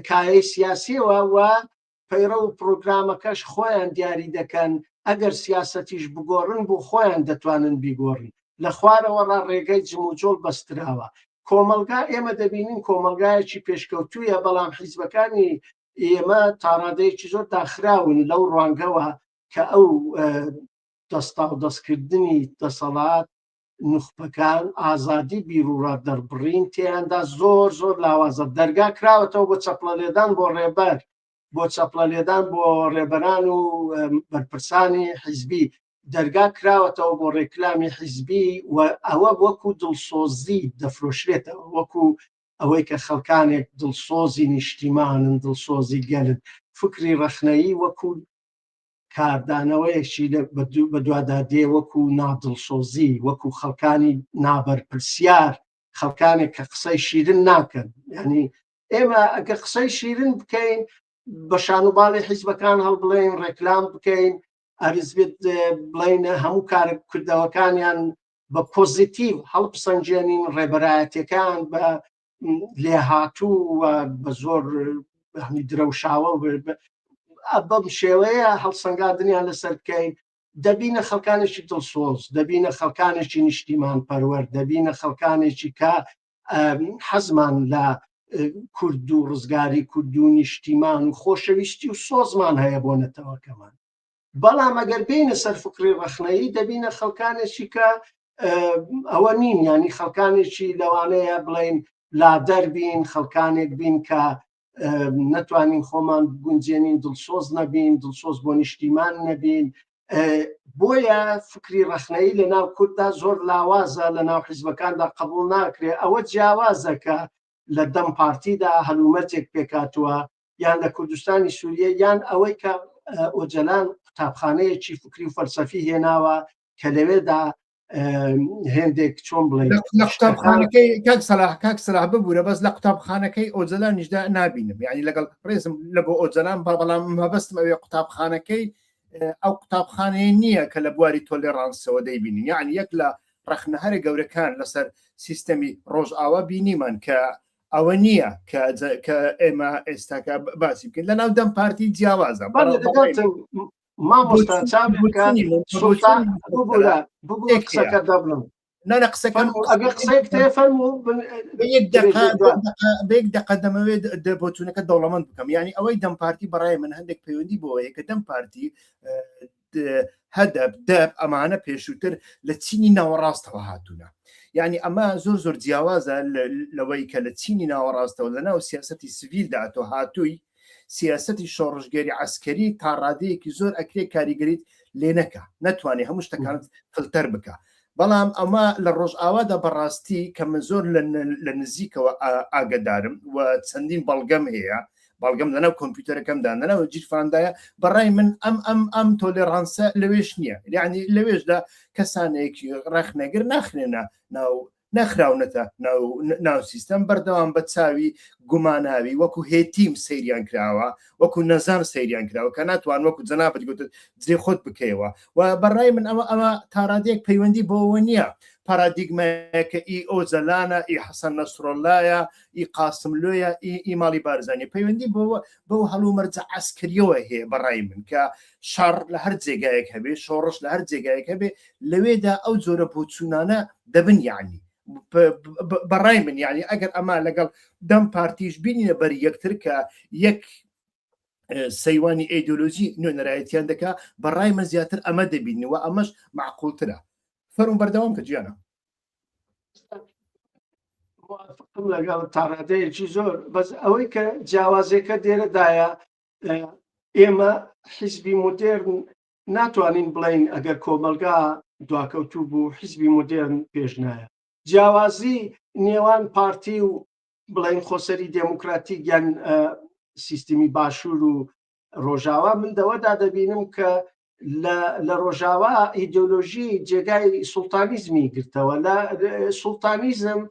S1: کایەی سیاسیەوە و پەیڕە و پرۆگرامەکەش خۆیان دیاری دەکەن ئەگەر سیاسەتیش بگۆڕن بۆ خۆیان دەتوانن بیگۆڕن لە خوارەوە ڕا ڕێگەی جموجۆڵ بەستراوە کۆمەلگا ئێمە دەبینین کۆمەلگایەکی پێشکەوتویە بەڵام حیزبەکانی ئێمە تاڕادەیەکی زۆر داخراون لەو ڕوانگەوە کە ئەو دەستاودەستکردنی دەسەڵات نوخبەکان ئازادی بیرورا دەربڕین تێیاندا زۆر زۆر لاوازە دەرگا کراوەتەوە بۆ چەپڵە لێدان بۆ ڕێبەر بۆ چەپڵە لێدان بۆ ڕێبەران و بەرپرسانی حیزبی دەرگا کراوەتەوە بۆ ڕێکلامی حیزبی و ئەوە وەکو دڵسۆزی دەفرۆشرێتەوە وەکو ئەوەی کە خەڵکانێک دڵسۆزی نیشتیمانن دڵسۆزی گەلن فکری ڕەخنەیی وەکو کاردانەوەیەکی بەدوادادێ وەکو نادڵسۆزی وەکو خەڵکانی نابەرپرسیار خەڵکانێک کە قسەی شیرن ناکەن ینی ئێمە ئەگە قسەی شیرن بکەین بە شانوباڵی حیزبەکان هەڵ بڵێن ڕێکلام بکەین ئەرزبێت بڵین هەموو کارە کردەوەکانیان بە پۆزیتیو هەڵپسەنجێنین ڕێبەرایەتەکان بە لێهاتوو و بە زۆر هەمی درەوشاوە بەم شێوەیە هەڵسەنگادنیان لەسەر بکەین دەبینە خەڵکانێکی دڵسۆز دەبینە خەڵکانێکی نیشتیمان پەروەەر دەبینە خەڵکانێکی کە حەزمان لە کورد و ڕزگاری کورد و نیشتیمان و خۆشەویستی و سۆزمان هەیە بۆ نەتەوەکەمان بەڵام ئەگەر بینە سەر فکری ڕخنەیی دەبینە خەڵکانێکی کە ئەوە نین ینی خەڵکانێکی لەوانەیە بڵین لا دەربین خەڵکانێک بین کە نەتوانین خۆمان گونجێنین دڵسۆز نەبین دڵسۆز بۆ نیشتیمان نەبین بۆیە فکری ڕخنەی لە ناو کورددا زۆر لاوازە لە ناو حیزبەکاندا قبول ناکرێ ئەوە جیاوازەکە لە دەم پارتیدا هەلومەرجێک پێکاتوە یان لە کوردستانی سووریە یان ئەوەی کە ئۆجەلان قوتابخانەیەکی فکری و فەلسەفی هێناوە کە لەوێدا هێندێک چۆن بڵێ لە قوتابخانەکەی
S2: کاک سەلاح کاک سەلاح ببوورە بەس لە قوتابخانەکەی ئۆجەلانیشدا نبینم یعنی لەگەڵ ڕێزم لە بۆ ئۆجەلان با بەڵام مەبەستم ئەوێ قوتابخانەکەی ئەو قوتابخانەیە نییە کە لە بواری تۆلێڕانسەوە دەیبینی یعنی یەک لە ڕەخنە هەرە گەورەکان لەسەر سیستەمی ڕۆژئاوا بینیمان کە ئەوە نییە کە ئێمە ئێستاکە باسی بکەین لە ناو دەم پارتی جیاوازە
S1: نانە قسەکان
S2: بێک دەقە دەمەوێت دەبچونەکە دەوڵەمەند بکەم ینی ئەوەی دەم پارتی بەڕای من هەندێک پەیوەندی بۆەیە کە دەم پارتی هەدەب دەب ئەمانە پێشووتر لە چینی ناوەڕاستەوە هاتوونە یعنی ئەمە زۆر زۆر جیاوازە لەوەی کە لە چینی ناوەڕاستەوە لە ناو سیاستی سڤیل داتۆ هاتووی سیاستی شۆڕژگەری عسکەری تا ڕادەیەکی زۆر ئەکرێ کاریگەریت لێ نەکە ناتوانێت هەموو شتەکانت فلتەر بکە بەڵام ئەمە لە ڕۆژئاوادا بەڕاستی کە من زۆر لە نزیکەوە ئاگدارم و چەندین بەڵگەم هەیە بەڵگەم لەناو کۆمپیوتەرەکەمدا نەناوە جیرفاندایە بەڕای من ئەم ئەم ئەم تۆلێڕانسە لەوێش نییە یعنی لەوێشدا کەسانێک ڕخنەگر ناخرێنە ناو نەخراونەتە ناو سیستەم بەردەوام بە چاوی گوماناوی وەکو هێتیم سەیریان کراوە وەکو نەزان سەیریان کراوە کە ناتوان وەکو جەنابەت گوت جێ خۆت بکەیەوە و بەڕای من ئەوە ئەوە تاڕادێک پەیوەندی بۆەوە نییە پارادیگمەکە ئی ئۆجەلانە ئی حەسەن نەسرۆلایە ئی قاسم لۆیە ئی ماڵی بارزانانی پەیوەندی بۆەوە بەو هەڵومەرجە ئەسکریەوە هەیە بەڕای من کە شەڕ لە هەر جێگایەک هەبێ شۆڕش لە هەر جێگایەک هەبێ لەوێدا ئەو جۆرە بۆچوونانە دەبن یعنی بەڕای من یعنی ئەگەر ئەمە لەگەڵ دەم پارتیش بینە بەر یەکتر کە یەک سەیوانی ئەیدۆلۆژی نوێنەرایەتیان دەکا بەڕای من زیاتر ئەمە دەبینەوە ئەمەش معقولترە فەرم بەردەوام کە جیانە لەگەڵ
S1: تاڕادەیەکی زۆر بەس ئەوەی کە جیاوازێکە دێرەدایە ئێمە حیزبی مدێرن ناتوانین بڵین ئەگەر کۆمەلگا دواکەوتوو بوو حیزبی مدێرن پێش نایە جیاوازی نێوان پارتی و بڵین خۆسەری دێموکراتی گیان سیستمی باشوور و ڕۆژاوا من دەوەدا دەبینم کە لە ڕۆژاوا ئیدۆلۆژی جێگای سوڵتانیزمی گرتەوە لە سوڵتانیزم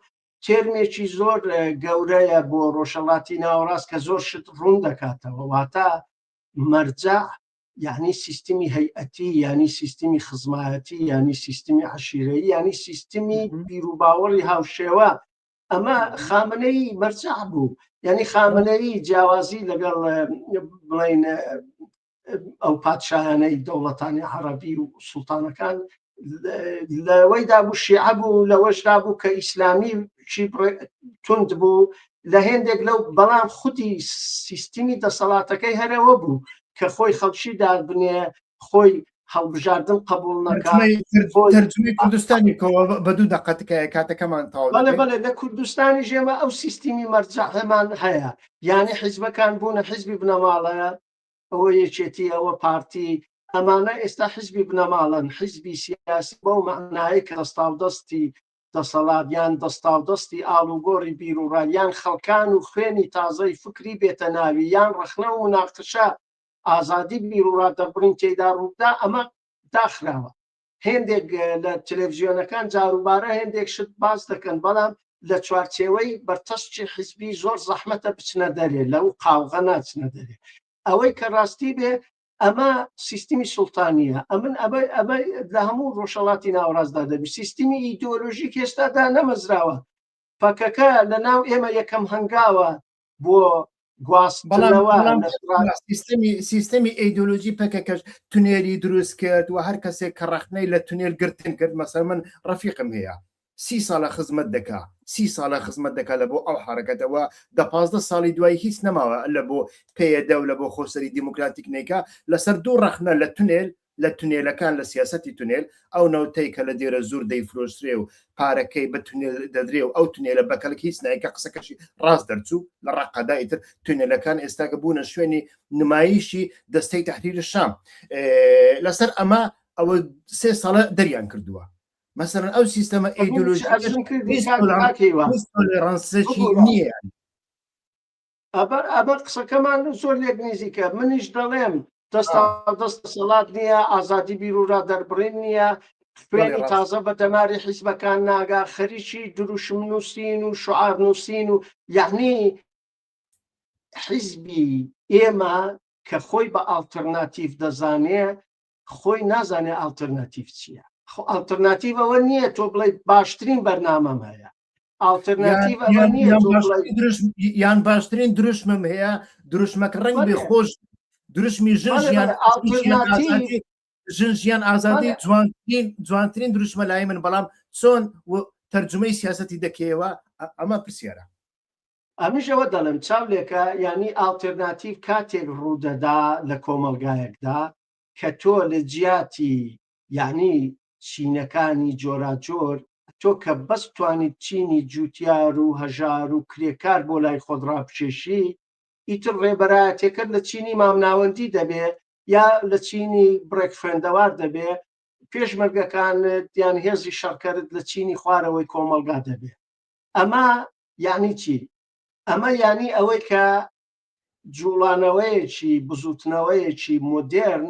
S1: تێرمێکی زۆر گەورەیە بۆ ڕۆژەڵاتی ناوەڕاست کە زۆر شت ڕوون دەکاتەوە واتە مەرجە یعنی سیستمی هەیئەتی ینی سیستمی خزمایەتی ینی سیستمی عشیرەی ینی سیستمی بیروباوەڕی هاوشێوە ئەمە خامنەی مەرجع بوو ینی خامنەی جیاوازی لەگەڵ بڵین ئەو پادشاهانەی دەوڵەتانی عربی و سلتانەکان لەوەی دابوو شیعە بوو لەوەش دابوو کە ئیسلامی چی تند بوو لە هێندێک لەو بەڵام خودی سیستمی دەسەڵاتەکەی هەرەوە بوو کە خۆی خەڵکی دار بنێ خۆی هەڵبژاردن قبول نەکردترجمی
S2: کوردستانی کەەوە بە دوو دەقەتکایە کاتەکەمان تاوە بەێ لە کوردستانی
S1: ژێمە ئەو سیستمی مەرجەمان هەیە یانە حیزبەکان بوونە حیزبی بنەماڵەیە ئەوە یەکێتی ئەوە پارتی ئەمانە ئێستا حزبی بنەماڵەن حزبی سیاسی بەو معناایی کە دەستاو دەستی دەسەڵاتیان دەستاو دەستی ئاڵوگۆڕی بیرروڕایان خەڵکان و خوێنی تازەی فکری بێتە ناوی یان ڕخنە و مناقشە ئازادی بیرڕا دەربڕین تێدا ڕوودا ئەمە داخراوە هێندێک لە تلێڤزیۆنەکان جاروبارە هێندێک شت باس دەکەن بەڵام لە چوارچێوەی بەرتەسکی حیزبی زۆر زەحمەتە بچنە دەرێ لەو قاوغە ناچنە دەرێ ئەوەی کە ڕاستی بێ ئەمە سیستمی سوڵتانیە ئەمن ئەبەر ئەمە لە هەموو ڕۆژەڵاتی ناوەڕاستدا دەبی سیستمی ئیدۆلۆژیک هێستادا نەمەزراوە پەکەکە لە ناو ئێمە یەکەم هەنگاوە بۆ
S2: سیستمی سیستمی ئەیدۆلۆژی پەکەکەش تونێری دروست کرد و هەر کەسێک کە ڕخنەی لە تونێل گرتن کرد مەسەر من ڕفیقم هەیە سی ساڵە خزمەت دەکا سی ساڵە خزمەت دەکا لە بۆ ئەو حرەکەتەوە دە پازدە ساڵی دوای هیچ نەماوە لە بۆ پێدە و لە بۆ خۆسەری دیموکراتیک نیکە لەسەر دوو ڕخنە لە تونێل لە تونێلەکان لە سیاسەتی تونێل، ئەو نەوتەی کە لە دێرەزوور دەیفرۆشرێ و پارەکەی بە تونێل دەدرێ و ئەو تونێلە بە کەلک هیچ نایەن کە قسەکەشی ڕاست دەرچوو لە ڕەققەدا ئیتر تونێلەکان ئێستا کە بوونە شوێنی نمایشی دەستەی تەحریری شام لەسەر ئەمە ئەوە سێ ساڵە دەریان کردووە مەسەرەن ئەو سیستەمە ئەیدۆلۆژی ڕەنسەکی نییە ئەبەر
S1: ئەبەر قسەکەمان زۆر لێک نزیکە منیش دەڵێم دەستا دەست دەسەڵات نییە ئازادی بیرورا دەربڕین نییە خوێنی تازە بە دەماری حیزبەکان ناگا خەریکی دروشم نووسین و شعار نووسین و یعنی حیزبی ئێمە کە خۆی بە ئاڵتەرناتیف دەزانێ خۆی نازانێ ئاڵترناتیڤ چییە خۆ ئاڵترناتیڤ ئەوە نییە تۆ بڵێ باشترین بەرنامەم هەیە ئاڵترناتیڤ ئەوە نییە تۆ بڵێ
S2: یان باشترین دروشمم هەیە دروشمەکە ڕەنگ بێ خۆش دروشمی ژن ژیان ئاڵترناتیڤ ژن ژیان ئازادی جوانترین جوانترین دروشمە لای من بەڵام چۆن تەرجمەی سیاستی دەکەیەوە ئەمە پرسیارە ئەمنیش
S1: ئەوە دەڵێم چاو لێکە یانی ئاڵتێرناتیڤ کاتێک ڕوودەدا لە کۆمەڵگایەکدا کە تۆ لە جیاتی یانی چینەکانی جۆراجۆر تۆ کە بەس توانیت چینی جووتیار و هەژار و کرێکار بۆ لای خۆت ڕابکێشی ئیتر ڕێبەرایەتێکەت لە چینی مامناوەندی دەبێ یا لە چینی بڕێک خوێندەوار دەبێ پێشمەرگەکانت یان هێزی شەڕکەرت لە چینی خوارەوەی کۆمەڵگا دەبێ ئەمە یانی چی؟ ئەمە یانی ئەوەی کە جوڵانەوەیەکی بزوتنەوەیەکی مۆدێرن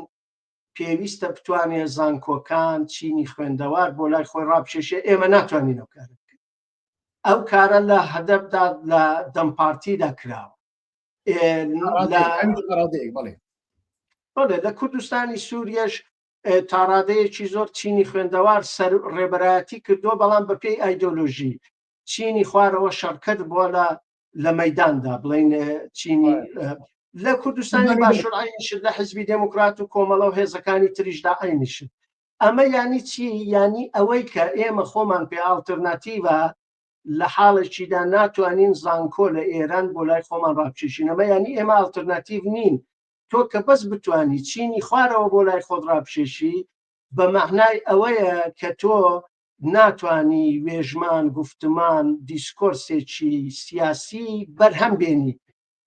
S1: پێویستە بتوانێ زانکۆکان چینی خوێندەوار بۆ لای خۆی ڕاپکێشێ ئێمە ناتوانین ئەو کارە بکەین ئەو کارە لە هەدەپدا لە دەم پارتیدا کراوە بڵێ لە کوردستانی سووریش تاڕادەیەکی زۆر چینی خوێندەوار سەر ڕێبەرایەتی کردووە بەڵام بەپێی ئایدۆلۆژی چینی خوارەوە شەڕکەر بووە لە لە مەداندا بڵین چینی لە کوردستانی باشورعینیشت لە حزبی دموکرات و کۆمەڵە و هێزەکانی تریشدا عینیشت ئەمە ینی چی ینی ئەوەی کە ئێمە خۆمان پێ ئاڵتەرناتیڤە لە حاڵێکیدا ناتوانین زانکۆ لە ئێران بۆ لای خۆمان ڕاپشێشینەمە ینی ئێمە ئاڵتەرناتیڤ نین تۆ کە بەس بتانی چینی خوارەوە بۆ لای خۆت ڕاپشێشی بە مەعنای ئەوەیە کە تۆ ناتانی وێژمان گفتمان دیسکۆرسێکی سیاسی بەرهەم بێنی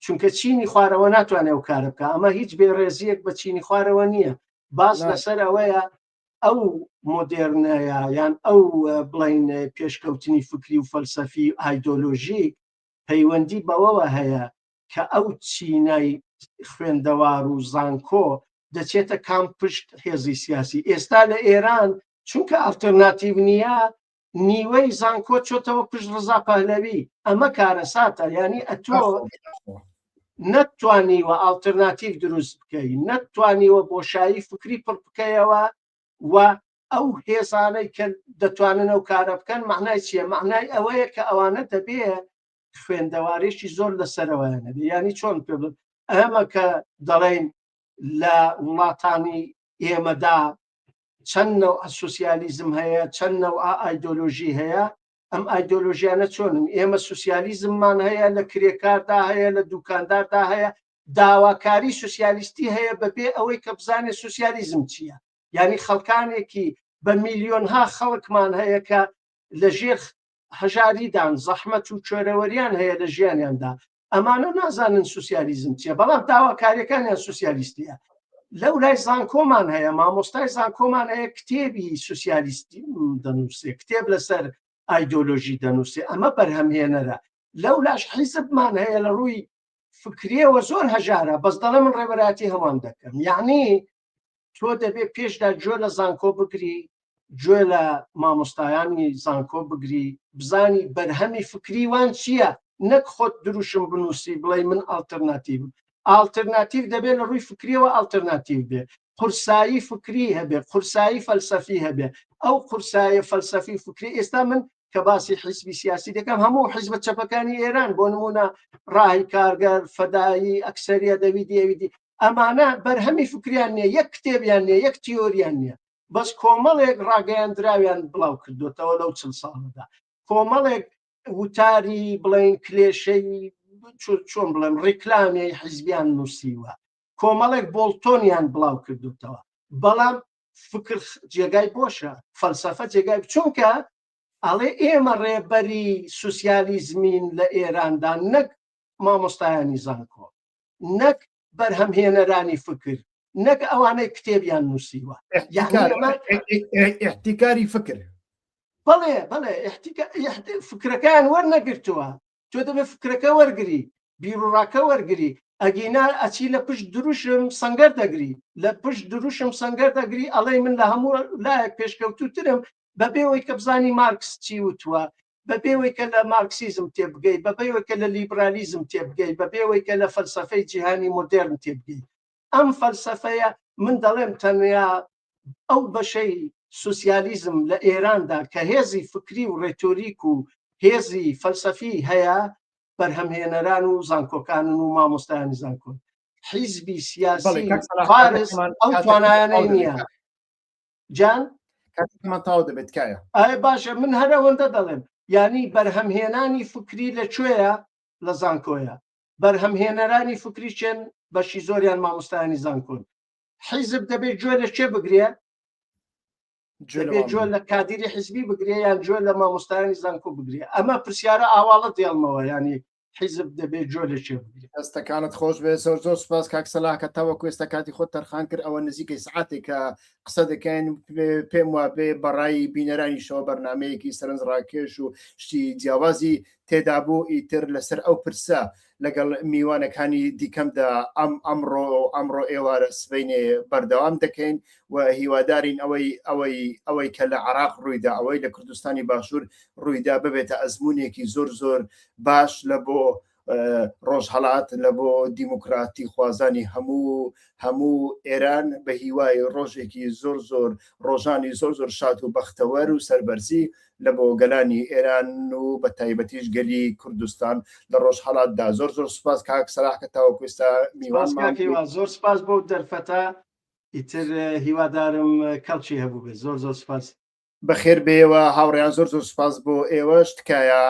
S1: چونکە چینی خوارەوە ناتوانێت و کارە بکە ئەمە هیچ بێڕێزیەک بە چینی خوارەوە نییە باز لەسەر ئەوەیە ئەو مۆدێرنەیە یان ئەو بڵین پێشکەوتنی فکری و فەلسەفی ئایدۆلۆژیک پەیوەندی بەوەوە هەیە کە ئەو چینای خوێندەوار و زانکۆ دەچێتە کام پشت هێزی سیاسی ئێستا لە ئێران چونکە ئەلتەرناتیو نییە نیوەی زانکۆ چۆتەوە پشت ڕزا پەهلەوی ئەمە کارەساتە ینی ئەتۆ نەتوانیوە ئالتەرناتیف دروست بکەی نەتوانیوە بۆشایی فکری پڕ بکەیەوە و ئەو هێزانەی کە دەتوانن ئەو کارە بکەن معنای چییە معنای ئەوەیە کە ئەوانە دەبێ خوێندەوارێکی زۆر لە سەرەوەیانە یانی چۆن پێ ئەمە کە دەڵێن لە وڵاتانی ئێمەدا چەند نەوع سوسیالیزم هەیە چەند نەوع ئایدۆلۆژی هەیە ئەم ئایدۆلۆژیانە چۆنن ئێمە سوسیالیزممان هەیە لە کرێکاردا هەیە لە دوکانداردا هەیە داواکاری سوسیالیستی هەیە بەبێ ئەوەی کە بزانێت سوسیالیزم چییە یعنی خەڵکانێکی بە میلیۆنها خەڵکمان هەیە کە لە ژێر هەژاریدان، زەحمەت و کوێرەوەریان هەیە لە ژیانیاندا، ئەمانە نازانن سوسیالیزم چیە، بەڵام داواکاریەکانیان سوسیالیستیە. لەورای زانکۆمان هەیە، مامۆستای زانکۆمان هەیە کتێبی سوسیالیستی دەنووسێ، کتێب لەسەر ئایدۆلۆژی دەنووسێ، ئەمە بەرهەمهێنەرە. لەولاش حیزبمان هەیە لە ڕووی فکریەوە زۆر هەژارە، بەس دەڵێ من ڕێبەرایەتی هەموان دەکەم. یەعنی تۆ دەبێت پێشدا گوێ لە زانکۆ بگری گوێ لە مامۆستایانی زانکۆ بگری بزانی بەرهەمی فکری وان چییە نەک خۆت دروشم بنووسی بڵێ من ئالتەرناتیو ئالتەرناتیو دەبێت لە ڕووی فکریەوە ئالتەرناتیو بێ قورسایی فکری هەبێ قورسایی فەلسەفی هەبێ ئەو قورسایە فەلسەفی فکری ئێستا من کە باسی حیزبی سیاسی دەکەم هەموو حیزبە چەپەکانی ئێران بۆ نمونە ڕاهی کارگەر فەدایی ئەکسریە دەویدی ئەویدی ئەمانە بەرهەمی فکریان نیە یەک کتێبیان نیە یەک تیۆریان نیە بەس کۆمەڵێک ڕاگەیاندراویان بڵاو کردوێتەوە لەو چل ساڵدا کۆمەڵێک وتاری بڵین کلێشەی چۆن بڵێم ڕیکلامی حیزبیان نووسیوە کۆمەڵێک بۆڵتۆنیان بڵاو کردوتەوە بەڵام فکر جێگای بۆشە فەلسەفە جێگای چونکە ئەڵێ ئێمە ڕێبەری سوسیالیزمین لە ئێراندا نەک مامۆستایانی زانکۆ نەک بەرهەمهێنەرانی فکر نەک ئەوانەی کتێبیان نووسیوە احتیکاری
S2: فکر بەڵێ
S1: بەڵێ فکرەکان وەرنەگرتووە تۆ دەبێت فکرەکە وەرگری بیرڕاکە وەرگری ئەگینا ئەچی لە پشت دروشم سنگەر دەگری لە پشت دروشم سنگەر دەگری ئەڵێ من لە هەموو لایەک پێشکەوتوترم بەبێەوەی کە بزانی مارکس چی وتووە بەبێ ئەوەی کە لە مارکسیزم تێبگەیت، بەبێ ئەوەی کە لە لیبرالیزم تێبگەیت، بەبێ ئەوەی کە لە فەلسەفەی جیهانی مۆدێرن تێبگەیت. ئەم فەلسەفەیە، من دەڵێم تەنیا ئەو بەشەی سوسیالیزم لە ئێراندا کە هێزی فکری و ڕێتۆریک و هێزی فەلسەفی هەیە، بەرهەمهێنەران و زانکۆکانن و مامۆستایانی زانکۆن. حیزبی سیاسی فارس ئەو توانایانەی نییە. جان کاتمان
S2: تاو دەبێت کایە ئایا باشە من هەر
S1: ئەوەندە دەڵێم یعنی بەرهەمهێنانی فکری لە کوێیە لە زانکۆیە بەرهەمهێنەرانی فکری چێن بەشی زۆریان مامۆستایانی زانکۆن حیزب دەبێت گوێ لە چێ بگرێ جوێ لە کادیری حزبی بگرێ یان جوێ لە مامۆستایانی زانکۆ بگرێ ئەمە پرسیارە ئاواڵە دێڵمەوە ینی حیزب دەبێت جۆ لە چێ بگرێت هەستەکانت خۆش بێ
S2: زۆر زۆر سپاس کاک سەلاکە تاوە کوێستە کاتی خۆ تەرخان کرد ئەوە نزیکەی سعاتێکە قسە دەکەین پێم وا بێ بەڕایی بینەرانی شەوە بەرنمەیەکی سەرنج ڕاکێش و شتی جیاوازی تێدا بوو ئیتر لەسەر ئەو پرسە لەگەڵ میوانەکانی دیکەمدا ئەم ئەمڕۆ ئەمڕۆ ئێوارە سبینێ بەردەوام دەکەین و هیوادارین ئەوەی ئەوەی ئەوەی کە لە عراق ڕوویدا ئەوەی لە کوردستانی باشوور ڕوویدا ببێتە ئەزمونێکی زۆر زۆر باش لە بۆ ڕۆژهڵات لە بۆ دیموکراتی خوازانی هەموو هەموو ئێران بە هیوای ڕۆژێکی زۆر زۆر ڕۆژانی زۆر زۆر شات و بەختەوەر و سەربەرزی لە بۆ گەلانی ئێران و بە تایبەتیش گەلی کوردستان لە ڕۆژهڵاتدا زۆر زۆر سپاس کاک سەراح کە تاوەکوستا میوان زۆر سپاس بۆ
S1: دەرفەتە ئیتر هیوادارم کەڵکی هەبوو بێت زۆر زۆر سپاس بەخێر بێەوە
S2: هاوڕیان زۆر زۆر سپاس بۆ ئێوەش تکایە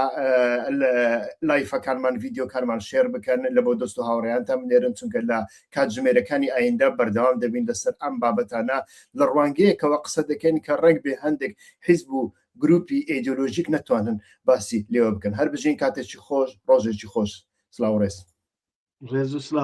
S2: لایفەکانمان ڤیددیوکانمان شێر بکەن لە بۆ دەست و هاوڕیانتان بنێرن چونکە لە کاتژمێرەکانی ئایندە بەردەوام دەبین لەسەر ئەم بابەتانە لە ڕوانگەیەکەوە قسە دەکەین کە ڕێک بێ هەندێک حیزب و گروپی ئێدۆلۆژیک نەتوانن باسی لێوە بکەن هەر بژین
S1: کاتێکی
S2: خۆش ڕۆژێکی خۆش سلااو ڕێز ڕێز و سلااو